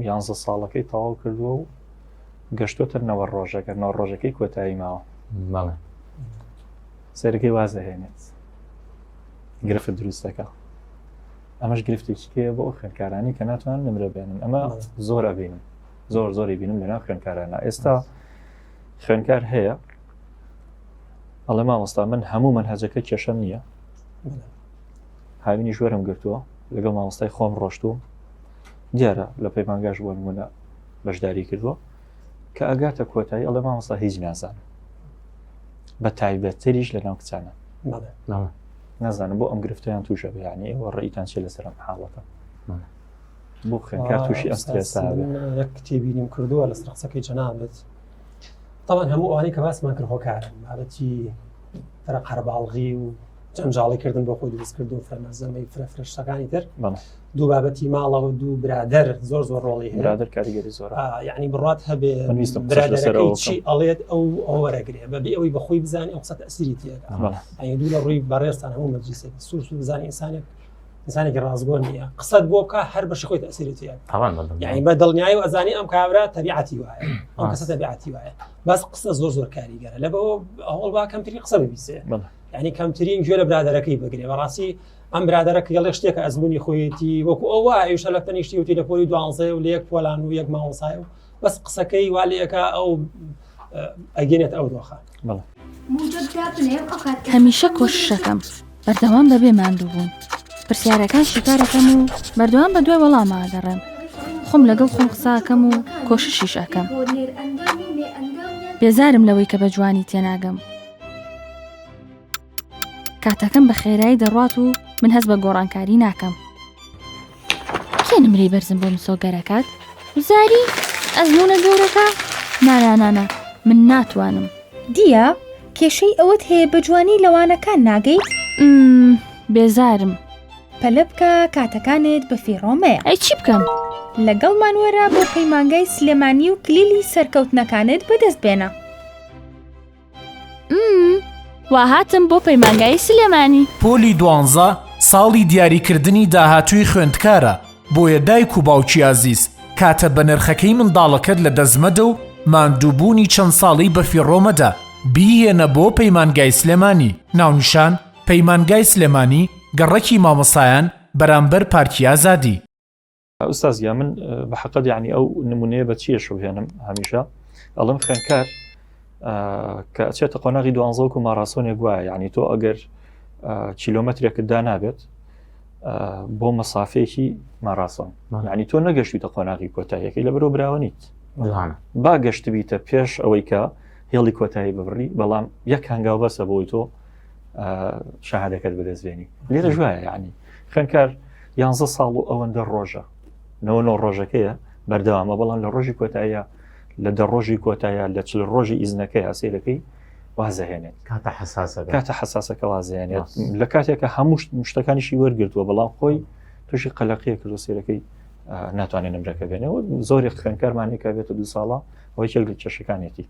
S1: یانزە ساڵەکەی تەواو کردووە و گەشتۆتە نەوە ڕۆژەکە نەوە ڕۆژەکەی کۆتایی ماوە ماڵێ سەرەکەی واز دەهێنێت گرفت دروستەکە ئەمەش گرفتێکی کێ بۆ خوێنکارانی کە ناتوان نمرە بێنن ئەمە زۆر ئەبینم زۆر زۆری بینم لەنا خوێنکارانە ئێستا خوێنکار هەیە ئەڵێ مامۆستا من هەموو منهجەکە کێشەم نییە هاوینی ژوەرم گرتووە لەگەڵ مامۆستای خۆم ڕۆشتووە دیارە لە پەیمانگاش بۆ نمونە بەشداری کردووە کە ئەگاتە کۆتایی ئەڵێ مامۆستا هیچ نازان بە تایبەتتریش لە ناو کچانە نازانم بۆ ئەم گرفتیان تووشە بەیانی ئێوە ڕێیتان چێ لەسەرم حاڵەکە بخێن کار تووشی ئەم سترێسە بێت. من یەک کتێبی
S2: نیم کردووە لەسەر قسەکەی جەنابت تاوان هەموو ئەوانەی کە باسمان کرد هۆکارن بابەتی فرە قەرباڵغی و جەنجاڵی کردن بۆ خۆی دروستکردن فرە مەزەمەی فرە فرەشتەکانی تر بەڵێ دوو بابەتی ماڵەوە دوو برادەر زۆر زۆر ڕۆڵی هەیە برادر کاریگەری زۆر آه،
S1: یعنی بڕات هەبێ من
S2: ویستم قسەش لەسەرەوە برادەرەکەی بکەم. چی ئەڵێت ئەو ئەو وەرەگرێ بە بێ ئەوەی بەخۆی بزانانی ئەو قسە تەسیری تێدا بەڵێ. ئەی دوو لە ڕووی بەڕێزتان هەموو مەجلیسێک سوور سوور بزانانی ئینسانێک ئینسانێکی ڕاستگۆ نییە قسەت بۆ بکە هەر بەش خۆی تەسیری تێ یعنی بە دڵنیایی و ئەزانی ئەم کابرا تەبیعەتی وایە ئەم کەسە تەبیعەتی وایە بەس قسە زۆر زۆر کاریگەرە لە بەوە ئەوڵ با کەمتری قسە ببیسێ ینی کەمترین گوێ لە برادەرەکەی بگرێ بەڕاستی ئەم برادەرە کێڵێ شتێکە ئەزمموی خۆیەتی وەکو ئەوە ئەوشە لە تەنیشتی وتی لە پۆلی دوانزێ و لەیەک پۆلان و یەک ماوەسای و بەس قسەکەی والەکە ئەو ئەگەێت ئەو دۆخە
S4: هەمیشە کۆششەکەم بەردەوام بەبێ ماندوو بوون پرسیارەکان شیکارەکەم و بەردەوام بە دوای وەڵاما دەڕێم خۆم لەگەڵ خۆم قساکەم و کۆششیش ئەەکەم بێزارم لەوەی کە بە جوانی تێناگەم کاتەکەم بە خێرایی دەڕات و من هەست بە گۆڕانکاری ناکەم کێ نمرەی بەرزم بۆ مسۆگەرەکات وزاری ئەزمونە زۆرەکە نانانانا من ناتوانم دیە
S5: کێشەی ئەوەت هەیە بە جوانی لەوانەکان ناگەیت
S4: بێزارم
S5: پەلە بکە کاتەکانت بە فیڕۆمەیە ئەی چی بکەم
S4: لەگەڵ مانوەرە
S5: بۆ پەیمانگای سلێمانی و کلیلی سەرکەوتنەکانت بەدەست بێنە
S4: وا هاتم بۆ پەیمانگای سلێمانی پۆلی دوانزە
S6: ساڵی دیاریکردنی داهاتووی خوێندکارە بۆیە دایک و باوکی ئازیز کاتە بە نرخەکەی منداڵەکەت لە دەستمەدە و ماندووبوونی چەند ساڵی بەفیڕۆمەدە بیهێنە بۆ پەیمانگای سلێمانی ناونیشان پەیمانگای سلێمانی گەڕەکی مامۆسایان بەرامبەر پارکی ئازادی. ئوستاز
S1: گیان من بە حەقت یعنی ئەو نمونەیە بە چیە شوهێنم هەمیشە ئەڵم خوێنکار کە ئەچێتە قۆناغی دوانزەوەک و ماراسۆنێک وایە یعنی تۆ ئەگەر کیلومترێکت دا نابێت بۆ مەسافێکی ماراسۆن یعنی تۆ نەگەشتیتە قۆناغی کۆتاییەکەی لە بەرۆ براوە نیت با گەشت بیتە پێش ئەوەی کە هێڵی کۆتایی ببڕی بەڵام یەک هەنگاو بەسە بۆی تۆ شاهدەکەت بەدەستێنی لێرە ژایە یعنی خوێنکار یانزە ساڵ و ئەوەندە ڕۆژە نەوە نۆ ڕۆژەکەیە بەردەوامە بەڵام لە ڕۆژی کۆتایە لە دە ڕۆژی کۆتایە لە چل ڕۆژی ئیزنەکەی هەسیرەکەی وازەهێنێت کاتە حساسە کاتە حساسەکە وازێنێت لە کاتێکە هەموو شتەکانیشی وەرگتووە بەڵام خۆی تووشی قەلەقیە کرد و سیرەکەی ناتوانێت نمرەکە بێنەوە زۆری خوێنکارمانێکە بێتە دو ساڵە ئەوەی چێل کێشەکانێتی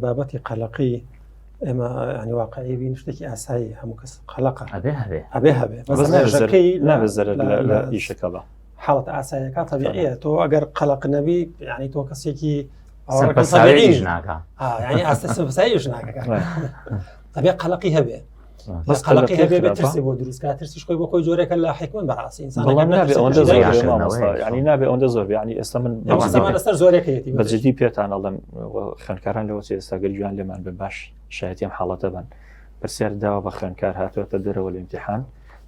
S2: بابەتی قەلەقی ئێمە ئەنی واقعی بین شتێکی ئاسایی هەموو کەس قەلەقە ئەبێ هەبێ ئەبێ هەبێ بەزەکەی
S1: نابزەر لە ئیشەکەەوە حاڵت ئاسایەکە
S2: تەبیعەیە تۆ ئەگەر قەلق نەبی یعنی تۆ کەسێکی ئاستەسایش ناکە ئەبێ قەلقی هەبێ بەس قەلقی هەبێ ترسی بۆ دروستکە ترسیش خۆی بۆ خۆی جۆرەکە لە حکمن بەڕاستی ئینسان
S1: نابێ ئەوەندە زۆر ینی ئێستا من لەسەر زۆرەکەیەتی
S2: بەجددی پێتان ئەڵم
S1: خوێندکاران لەوە چ ئێستا گەر گویان لێمان بێ باش شایەتی ئەم حاڵەتە بن پرسیار داوە بە خوێندکار هاتووەتە دەرەوە لە امتحان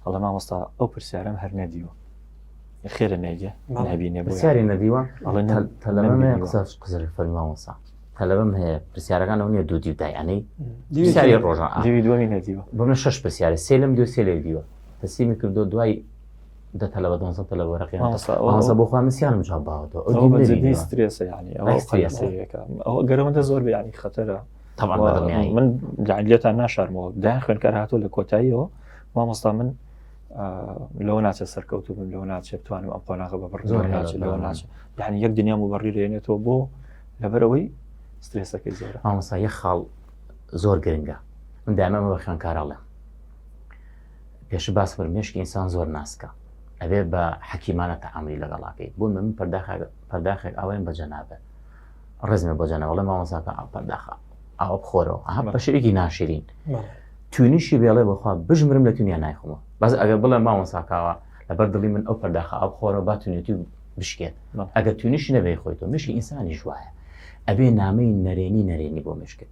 S1: هەڵە مامۆستا ئەو پرسیارم هەر نەدیوە خێرە نێگە نبینێ پرسیاری
S3: نەدیوە قزر فەرمی مامۆستا تەلەبم هەیە پرسیارەکان ئەو نیە دوو دی دایانەی دیساری ڕۆژان دووی دووەمی نەدیوە بەمە شش
S1: پرسیارە
S3: سێلم دوو سێلێک دیوە تەسیمی کردو دوای دە تەلە بە دۆنزە تەلە وەرەقیانزە بۆخوا
S1: مسیانم جواب
S3: باوەەوە ئەوسترێسە
S1: ینی ئەوە گەرەوەندە زۆر بیانی خەتەرە من لێتان ناشارمەوە دا خوێنکار هاتۆ لە کۆتاییەوە مامۆستا من لەوە ناچە سەرکەوتو بم لەوە ناچێ بتوانم ئەم قۆناغە بە بڕ زۆر ناچ لەوە ناچ یعنی یەک دنیام و بەڕیرێنێتەوە بۆ لەبەرەوەی سترێسەکەی زۆر مامۆسا یە خاڵ
S3: زۆر گرنگە من دامەمە بە خوێنکاراڵێ پێشت باس کرد مێشکی ئینسان زۆر ناسکە ئەبێ بە حەکیمانە تەعاملی لەگەڵاکەی بۆ من پەرداخێک ئاوایم بە جەنابێ ڕزمە بۆ جەنەوەڵێ مامەساکە ئا پەرداخە ئاوە بخۆرەوە ئەها بە شەرێکی ناشرین توینیشی بێڵێ بەخوا بژمرم لە تونیا نایخمەوە بەس ئەگەر بڵێ مامەساکاوە لەبەر دڵی من ئەو پەرداخە ئاو خۆرەوە با تونێتی بشکێت ئەگەر تونیشی نەبێ خۆیتەوە مشکی ئینسانی ژواە ئەبێ نامەی نەرێنی نەرێنی بۆ مشکت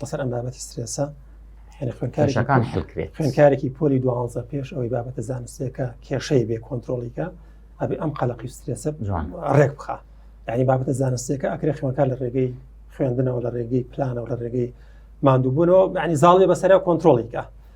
S2: لەسەر ئەم بابەتی سترێسە خوێنکارەکان
S3: حلکرێت خوێنکارێکی پۆلی
S2: دوانزە پێش ئەوەی بابەتە زانستێکە کێشەی بێ کۆنتترۆلیکە ئەبێ ئەم قەلقی سترێسە ڕێک بخە یعنی بابەتە زانستێکە ئەکرێ خوێنکار لە ڕێگەی خوێندنەوە لە ڕێگەی پلانەوە لە ڕێگەی مادووبوونەوە ینی زاڵێ بەسەر کۆنتترۆلیکە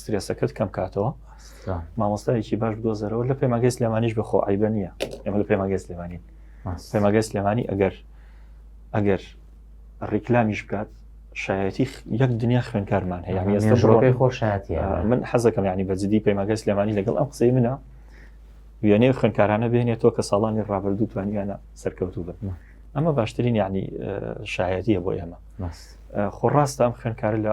S1: سترێسەکەت کەم کاتەوە مامۆستایەکی باش بدۆزەرەوە لە پەیماگەی سلێمانیش بخۆ ئایبە نییە ئێمە لە پەیماگەی سلێمانین پەیماگەی سلێمانی ئەگەر ئەگەر ڕیکلامیش بکات شایەتی یەک دنیا خوێنکارمان هەیە ئێستاڕۆکەی خۆشایەتی
S3: من حەزەکەم ینی
S1: بەجددی پەیماگەی سلێمانی لەگەڵ ئەم قسەی منە وێنێ خوێنکارانە بێنێتەوە کە ساڵانی ڕابردوو توانیانە سەرکەوتوو بن ئەمە باشترین یعنی شایەتیە بۆ ئێمە خۆ ڕاستە ئەم خوێنکارە لە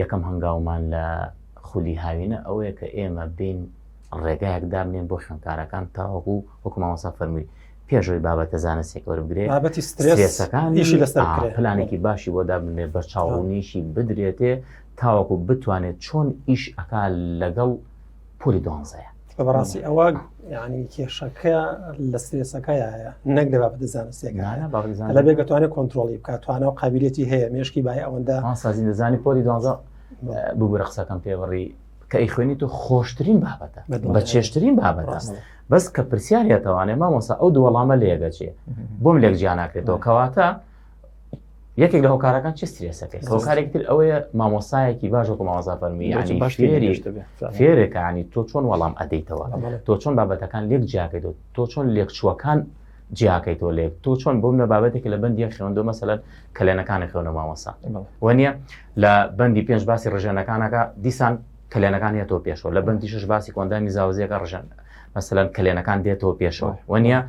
S3: یەکەم هەنگاومان لە خولی هاوینە ئەوەیە کە ئێمە بین ڕێگایەک دابنێن بۆ خوێندکارەکان تاوەکو وەکو مامۆسا فەرمووی پێشەوەی بابەتە زانستێک وەربگرێت بابەتی سترێسەکانی
S2: ئیشی لەسەر آه، بکرێت. پلانێکی باشی بۆ
S3: دابنێت بە چاوڕوونیشی بدرێتێ تاوەکو بتوانێت چۆن ئیش ئەکا لەگەڵ پۆلی دوانزەیە بەڕاستی ئەوە
S2: ینی کێشەکە لە سرێسەکەیە نەک لە بابەتە زانستیەکانە لە بێ گەتوانێت کۆنتترۆلی بکات توانە و قابلەتی هەیە مێشکی بای ئەوەندە سازی دەزانی پۆلی
S3: دوانزە ببوورە قسەکەم پێوەڕی کە ئی خوێنی تۆ خۆشترین بابەتە بە چێشترین بابەتە بەس کە پرسیارەتەوانێ مامۆسا ئەو دووەڵامە لێگەچێ بۆم لێک جیانناکرێتەوە کەواتە یەکێک لە هۆکارەکان چ سترێسەکەی هۆکارێک تر ئەوەیە مامۆسایەکی باش وەکو مامۆسا فەرمی فێرەکانی تۆ چۆن وەڵام ئەدەیتەوە تۆ چۆن بابەتەکان لێک جیاکەیت تۆ چۆن لێکچووەکان جیاکەیتەوە لێک تۆ چۆن بۆم لە بابەتێک لە بەندی خوێندۆ مەسەلەن کەلێنەکانی خوێنە مامۆسا وەنیە لە بەندی پێنج باسی ڕژێنەکانەکە دیسان کەلێنەکان هەیە تۆ پێشەوە لە بەندی شش باسی کۆندامی زاوزیەکە ڕژێن مەسەلەن کەلێنەکان دێتەوە پێشەوە وەنیە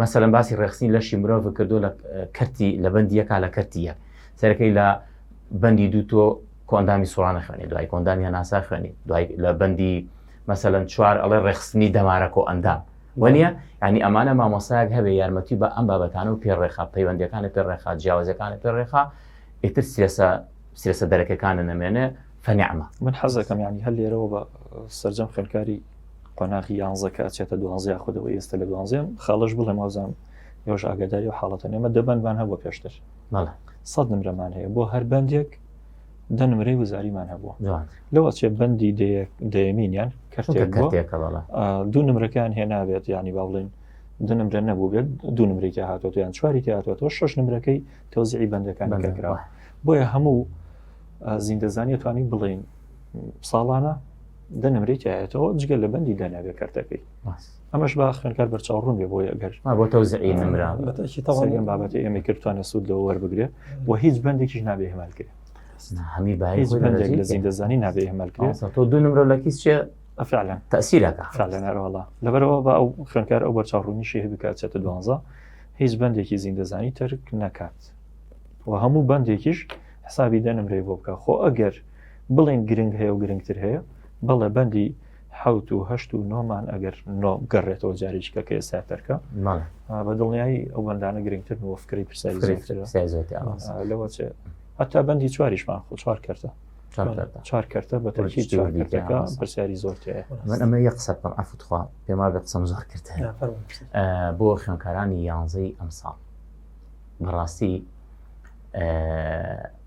S3: مەسەلەن باسی ڕێخستنی لەشی مرۆڤ کردو لە کەرتی لە بەندی یەکا لە کەرتی یەک سەرەکەی لە بەندی دوو تۆ کۆندامی سوڵانە خوێنی دوای کۆندامی هەناسا خوێنی دوای لە بەندی مەسەلەن چوار ئەڵێ ڕێخستنی دەمارەکە و ئەندام وەنیە ینی ئەمانە مامۆسایەک هەبێ یارمەتی بە ئەم بابەتانە و پێڕێخا پەیوەندەکانە پێڕێخا جیاوازەکانە پێڕێخا ئیتر سێسە سێسە دەرەکەکانە نەمێنێ فەنیعمە من حەزەکەم
S1: ینی هەر لێرەوە بە سرجەم خوێنکاری قۆناغی یانزە کە ئەچێتە دوازە یاخود ئەوە ئێستا لە دوازێم خاڵش بڵێم وازان یۆش ئاگاداری و حاڵەتە نێمە دەبندمان هەبوو پێشتر سەد نمرەمان هەیە بۆ هەر بەندێک دە نمرەی وزاریمان هەبووە لەو ئەچێ بەندی دەیەمینیان کەرتێک دوو نمرەکان هێنابێت ینی با بڵێن دو نمرە نەبوو بێت دوو نمری تیا هاتۆ یان چواری تیا هاتۆ شش نمرەکەی تۆزیعی بەندەکان کراوە بۆیە هەموو زیندەزانانی توانی بڵین ساڵانە دە نمرەی تایەتەوە جگە لە بەندی دانابێ کارتەکەی ئەمەش با خوێنکار بەرچاوڕون بێ بۆی ئەگەر بۆ تەوزعی نمرا
S3: بەتەشیتەوەم بابەتی
S1: ئێمە کردوانە سوود لەوە وەربگرێ و هیچ بەندێکیش نابێ هێمالکرێ هەمی باهی
S3: بەندێک لە
S1: زین دەزانی نابێ هێمالکرێ تۆ دو نمرە لە کیس
S3: چێ فعلا تەسیرەکە فعلەنەرەوەڵا
S1: لەبەرەوە بە ئەو خوێنکار ئەو بەرچاوڕونیشی هەبکات چێتە دوانزە هیچ بەندێکی زیندەزانی تەرک نەکات و هەموو بەندێکیش حسابی دە نمرەی بۆ بکە خۆ ئەگەر بڵێن گرنگ هەیە و گرنگتر هەیە بەڵێ بەندی حوت و هەشت و نۆمان ئەگەر نۆ گەڕێتەوە جارێککە کە ئێستا تەرکە بە دڵنیایی ئەو بەندانە گرنگتر و فکری پرسیلەوە هەتا بەندی چواریشمان خۆ چوار کردە چوار کردە بە پرسیاری زۆر من ئەمە یە قسە بکەم
S3: ئەفتخوا پێما بە قسەم زۆر کرد بۆ خوێنکارانی یانزەی ئەمساڵ بەڕاستی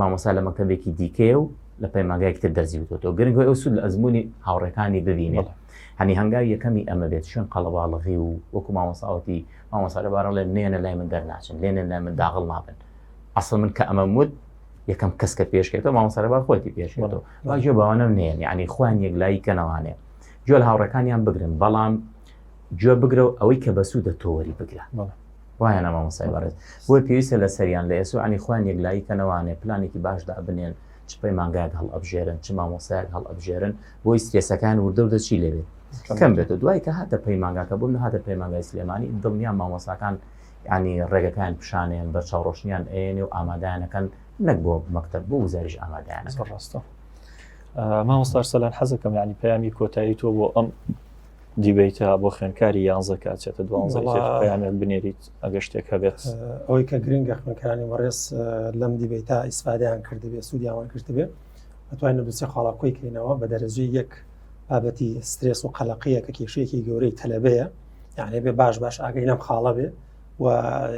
S3: مامۆسا لە مەکتتەبێکی دیکەیە و لە پەیماگایکتر دەرزی وتۆ گرنگەوە ئەو سود لە ئەزمموی هاوڕێکانی ببینێت هەنی هەنگاوی یەکەمی ئەمە بێت شوێن قەڵەباڵغی و وەکو مامۆساوتی مامۆسا لەبارە لێ نێنە لای من دەرناچن لێنێن لای من داغڵ نابن ئەسڵ من کە ئەمە وت یەکەم کەس کە پێشکێتەوە مامۆسەرەبار خۆتی پێشێتەوە واژێ باوانم نێن ینی خوان یەک لای کەنەوانێ جۆل هاوڕەکانیان بگرن بەڵام جوێ بگرە و ئەوەی کە بەسوودە تۆوەری بگرە وایە نا مامۆستای بەڕێز؟ بۆیە پێویستە لەسەریان لە ئێسۆ عنی خۆیان یەکلایی کەنەوانێ پلانێکی باش دابنێن چ پەیمانگایەک هەڵئەبژێرن چ مامۆستایەک هەڵئەبژێرن بۆی سرێسەکان وردەوردە چی لەوێت کەم بێت و دوای کە هاتە پەیمانگاکە بوون هاتە پەیمانگای سلێمانی دڵنیا مامۆساکان ینی ڕێگەکان پیشانیان بە چاوڕۆشنیان ئەێنێ و ئامادانەکەن نەک بۆ مەکتب بۆ وزاریش ئامادانە ڕاستە
S1: مامۆستار سەلان حەزەکەم ینی پەیامی کۆتایی تۆ بۆ ئەم دیبیتە بۆ خوێنکاری یانزە کە چێتە دوانزە پەیامێک بنێریت ئەگە شتێک هەبێت ئەوەی کە گرنگە
S2: خوێنکارانی وەڕێز لەم دیبیتا ئیسفادیان کردبێ سوودیاوان کردبێ ئەتوانین لە دوسێ خاڵاکۆی کەینەوە بە دەرەجی یەک بابەتی سترێس و قەلەقەیە کە کێشەیەکی گەورەی تەلەبەیە یعنی بێ باش باش ئاگەی لەم خاڵە بێ و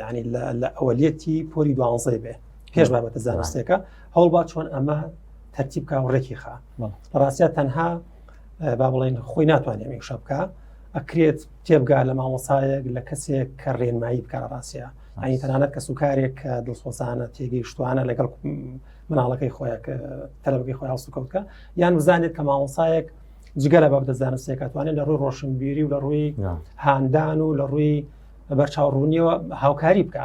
S2: ینی لە ئەوەلەتی پۆری دوانزەی بێ پێش بابەتە زانستێکە هەوڵبا چۆن ئەمە تەرتیبکە و ڕێکی خا ڕاستە تەنها با بڵێن خۆی ناتوانێت میشە بکە ئەکرێت تێبگا لە مامۆسایەک لە کەسێک کە ڕێنمایی بکە ڕاستە ئەنی تەنانەت کە سوکارێک کە دڵسۆزانە تێگەیشتوانە لەگەڵ مناڵەکەی خۆیان تەلەبگەی خۆیان سوکەوتکە یان بزانێت کە مامۆسایەک جگەلە بە دەزانستێکاتوانێت لە ڕووی ڕۆشنبیری و لە ڕووی هاندان و لە ڕووی بەرچاوڕوونیەوە هاوکاری بکە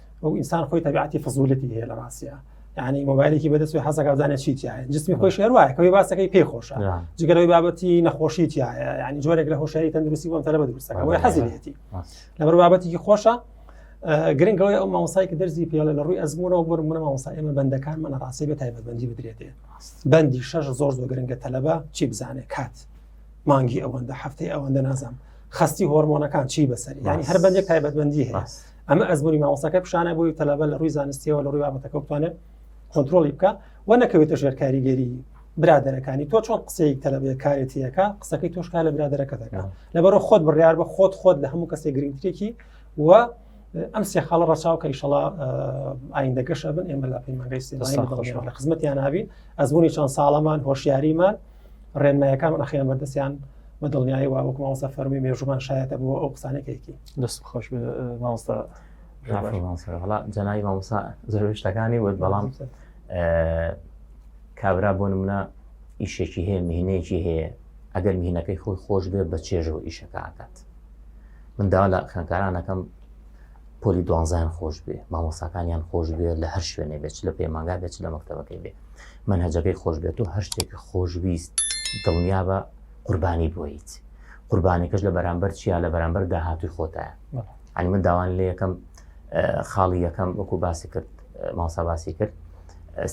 S2: ئەو ئینسان خۆی تەبیعەتی فزولەتی هەیە لە ڕاستە ینی مۆبایلێکی بەدەست حەزەکە بزانێت چی تایە جسمی خۆی شێواە کەی باسەکەی پێ خۆشە جگەرەوەی بابەتی نەخۆشی تایە ینی جۆرێک لە هۆشاری تەندروستی بۆم تەلە بەدروستەکە بۆی حەزیێتی لەبەر بابەتێکی خۆشە گرنگەوەی ئەو ماوسای کە دەرزی پێڵە لە ڕووی ئەزمونەوە بۆ منە ماوسا ئێمە بەندەکان منە ڕاستی بە تایبەتبندی بدرێتێ بەندی شەش زۆر زۆر گرنگە تەلەبە چی بزانێت کات مانگی ئەوەندە هەفتەی ئەوەندە نازانم خستی هۆرمۆنەکان چی بەسەر ینی هەر بەندێک تایبەتبندی هەیە ئەمە ئەزمونی مامۆستاکە پیشانە بۆی تەلەبە لە ڕووی زانستیەوە لە ڕووی بابەتەکە بتوانێت کۆنتترۆلی بکە و نەکەوێتە ژێر کاریگەری برادەرەکانی تۆ چۆن قسەی تەلەبێ کارێتیەکە قسەکەی تۆشکا لە برادەرەکە دەکە لەبەرە خۆت بڕیار بە خۆت خۆت لە هەموو کەسێک گرنگتێکی و ئەم سێ خاڵە ڕچاوکە ئیشەڵا ئایندە گەشە بن ئێمە لە پەیمانگەی سێمانەوە لە خزمەتیان نابی ئەزمونی چەند ساڵەمان هۆشیاریمان ڕێنمایەکان ئەخیان بەردەستیان بە دڵنیایی وەکومەوەسە فەرمی مێژومان شایەتە بۆ ئەو قسانێکێکی دەست خۆش مامۆستا وڵا
S3: جەنای مامۆسا زۆر شتەکانی وت بەڵام کابرا بۆ منە ئیشێکی هەیە مهینەیەکی هەیە ئەگەر مهینەکەی خۆی خۆش بێ بە چێژەوە ئیشەکە ئاکات من داوا لە خوێنکارانەکەم پۆلی دوانزان خۆش بێ مامۆساکانیان خۆش بێ لە هەر شوێنێ بێت لە پەیمانگا بێت لە مەکتتەبەکەی بێ من هەجەکەی خۆش بێت و هەر شتێکی خۆشویست دڵنیا بە قوربانی بۆیت قوربانەکەش لە بەرامبەر چیا لە بەرامبەر داهاتوی خۆتە ئەنی من داوان لە یەکەم خاڵی یەکەم وەکو باسی کرد ماوسا باسی کرد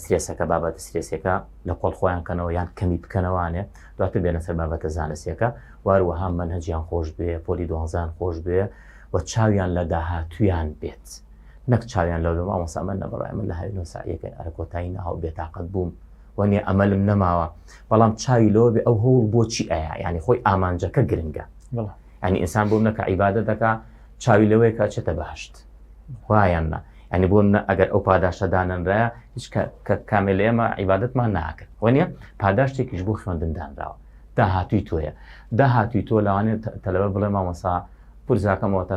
S3: سرێسەکە بابەتە سرێسەکە لە کۆڵ خۆیان کەنەوە یان کەمی بکەنەوانێ دواتر بێنە سەر بابەتە زانستیەکە واروەها من هەجیان خۆش بێ پۆلی دوانزان خۆش بێ و چاویان لە داهاتویان بێت نەک چاویان لەو بێ ئەوسامە نەبڕای من لە هاوی نوسایەکە ئەرکۆتایی ناو بێتاقەت بووم وەنێ ئەمەلم نەماوە بەڵام چاوی لەوە بێ ئەو هەوڵ بۆچی ئەیە ینی خۆی ئامانجەکە گرنگە ئەنی ئینسان بۆ نەکە عیبادە دەکا چاوی لەوەیە کە چێتە بەهشت وایان نە ئەنی بۆ منە ئەگەر ئەو پاداشتە دانەنراە هیچ کە کامێ لە ئێمە عیباەتمان ناکرد وەنیە پاداشتێکیش بۆ خوێندندانراوە داهاتوی تۆیە داهاتوی تۆ لەوانێت تەلەوە بڵێ مامەسا پرزاکەمەوە تا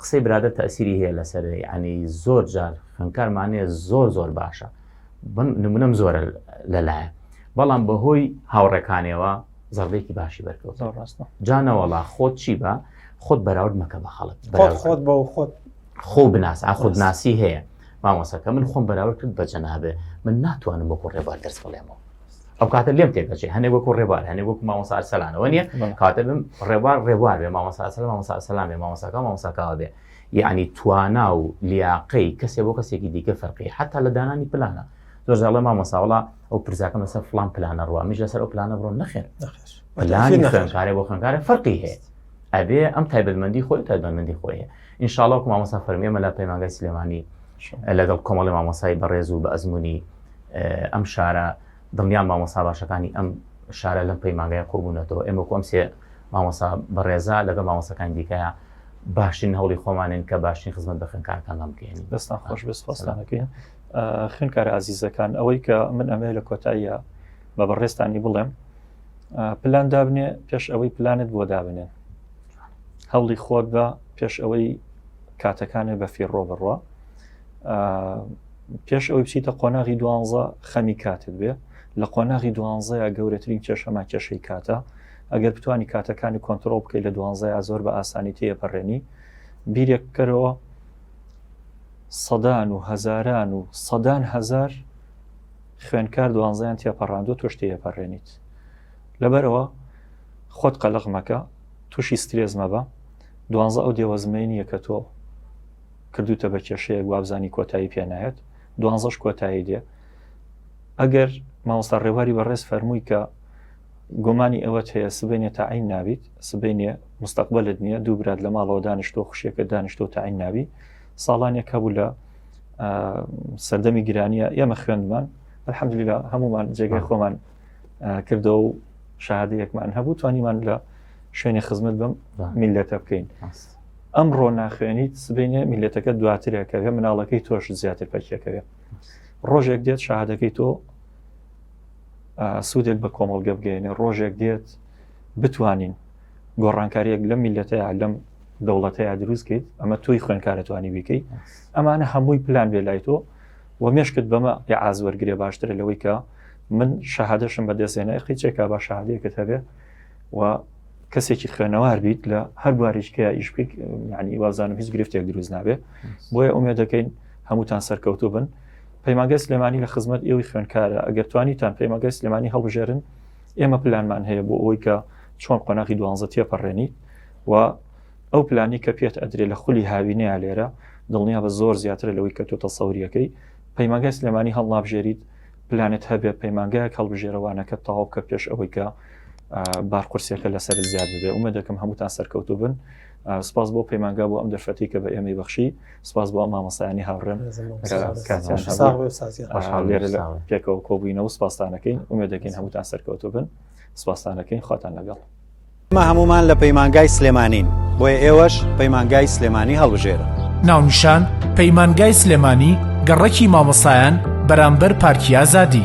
S3: قسەی برادە تەسیری هەیە لەسەر ینی زۆر جار خوێنکارمانەیە زۆر زۆر باشە نمونم زۆرە لەلایە بەڵام بەهۆی هاوڕێکانەوە زەڕبێکی باشی بەرکەوت ڕاستە جانەوەڵا خۆت چی بە خۆت بەراورد مەکە بە خەڵک خۆت بە خۆت
S2: خۆ بناس
S3: ئاخودناسی هەیە مامۆسەکە من خۆم بەراورد کرد بە جەنابێ من ناتوانم بۆ ڕێبار دەست بڵێمەوە ئەو کاتە لێم تێکەچێ هەنێ وەکو ڕێبار هەنێ وەکو مامۆسا ئەرسەلانەوە نییە کاتە بم ڕێبار ڕێبار بێ مامۆسا ئەرسەلان مامۆسا ئەرسەلان بێ مامۆساکە مامۆساکەوە بێ یعنی توانا و لیاقەی کەسێ بۆ کەسێکی دیکە فەرقی حتا لە دانانی پلانە زۆر زاڵە مامۆساوەڵا ئەو پرزاکەم لەسەر فلان پلانە ڕوە میش لەسەر ئەو پلانە بڕۆ نەخێن پلانی خوێنکارێ بۆ خوێنکارە فەرقی هەیە ئەبێ ئەم تایبەتمەندی خۆی تایبەتمەندی خۆی هەیە ئینشاڵاوکو مامۆسا فەرمیێمە لە پەیمانگای سلێمانی لەگەڵ کۆمەڵی مامۆسای بەڕێز و بە ئەزمموی ئەم شارە دڵنیام مامۆسا باشەکانی ئەم شارە لەم پەیمانگای قوبوونەتەوە ئێمە کۆم سێ مامۆسا بەڕێزا لەگە مامۆسەکان دیکەیە باشترین هەوڵی خۆمانن کە باشترین خزمەت بە خوێنکارەکان بەم بکەین دەستان خۆش بێست
S1: خۆستانەکەین خوێنکارە ئازیزەکان ئەوەی کە من ئەمێ لە کۆتاییە بە بەڕێستانی بڵێم پلان دابنێ پێش ئەوەی پلانت بۆ دابنێ هەوڵی خۆت بە پێش ئەوەی کاتەکانێ بە فێڕۆ بڕە پێش ئەوەی بچیتە قۆناغی دوانزە خەمی کاتت بێ لە قۆناغی دوانزەیە گەورەترین کێشەما کێشەی کاتە ئەگەر بتانی کاتەکانی کۆنتترۆل بکەیت لە دوانزای ئازۆر بە ئاسانی تێپەڕێنی بیرێک بکەرەوە سەدان و هەزاران و سەدان هزار خوێنکار دوانزیان تێپەڕاندو تۆش تێپەڕێنیت لەبەرەوە خۆت قەلق مەکە تووشی سترێز مەبە دوانزە ئەو دێوەزمەی نییە کە تۆ کردوتە بە کێشەیەک وابزانانی کۆتایی پێنایەت دوانزەش کۆتایی دێ ئەگەر مامۆستا ڕێواری بەڕێز فەرمووی کە گۆمانی ئەوەت هەیە سبینێ تاعین نابیت سبینێ مستەقبلت نییە دوو برات لە ماڵەوە دانیشتۆ خوشیەکە دانیشتۆ تاعین نابی ساڵانێک هەبوو لە سەردەمی گرانیە ئێمە خوێندمان الحەمدللا هەمومان جێگای خۆمان کردەوە و شادەیەکمان هەبوو توانیمان لە شوێنی خزمەت بم میلەتە بکەین ئەمڕۆ ناخوێنیت سبینێ میلەتەکە دواترەکەوێ مناڵەکەی تۆش زیاتر پەکیەکەوێ ڕۆژێک دێت شەهادەکەی تۆ سوودێک بە کۆمەڵگە بگەێنێ ڕۆژێک دێت بتوانین گۆڕانکاریەک لەم میلەتەیە لەم دەوڵەتەیە دروستکەیت ئەمە تۆی خوێنکارەتوانی بیکەی ئەمانە هەمووی پلان بێ لای تۆ و مێشکت بەمە یا ئازوەرگێ باشترە لەوەی کە من شەهادەشم بەدەستێنە قیچێکا بە شادێکت هەبێ و کەسێکی خوێنەوار بیت لە هەر بوارێکە ئیش بکەیت ینی وازانم هیچ گرفتێک دروست نابێ بۆیە ئومێ دەکەین هەمووتان سەرکەوتو بن پەیماگە سلێمانی لە خزمەت ئێوەی خوێنکارە ئەگەر توانیتان پەیماگە سلێمانی هەڵبژێرن ئێمە پلانمان هەیە بۆ ئەوەی کە چۆن قۆناغی دوانزە تێپەڕێنی و ئەو پلانی کە پێت ئەدرێ لە خولی هاوینەیە لێرە دڵنیا بە زۆر زیاترە لەوەی کە تۆ تەسەوریەکەی پەیماگە سلێمانی هەڵنابژێریت پلانت هەبێ پەیمانگایەک هەڵبژێرە وانەکەت تەواو بکە پێش ئەوەی کە بار قورسیەکە لەسەر زیاد ببێ ئومێد دەکەم هەمووتان سەرکەوتوو بن سپاس بۆ پەیمانگا بۆ ئەم دەرفەتی کە بە ئێمەی بەخشی سپاس بۆ مامەسایانی هاوڕێن پێکەوە کۆبووینەوە سپاسانەکەین ئومێ دەکەین هەمووتان سەرکەوتوو بن سپاسانەکەین خواتان لەگەڵ ئێمە هەموومان
S7: لە پەیمانگای سلێمانین، بۆیە ئێوەش پەیمانگای سلێمانی هەڵبژێرن. ناونیشان،
S6: پەیمانگای سلێمانی، گەڕەکی مامۆستایان بەرامبەر پارکی ئازادی.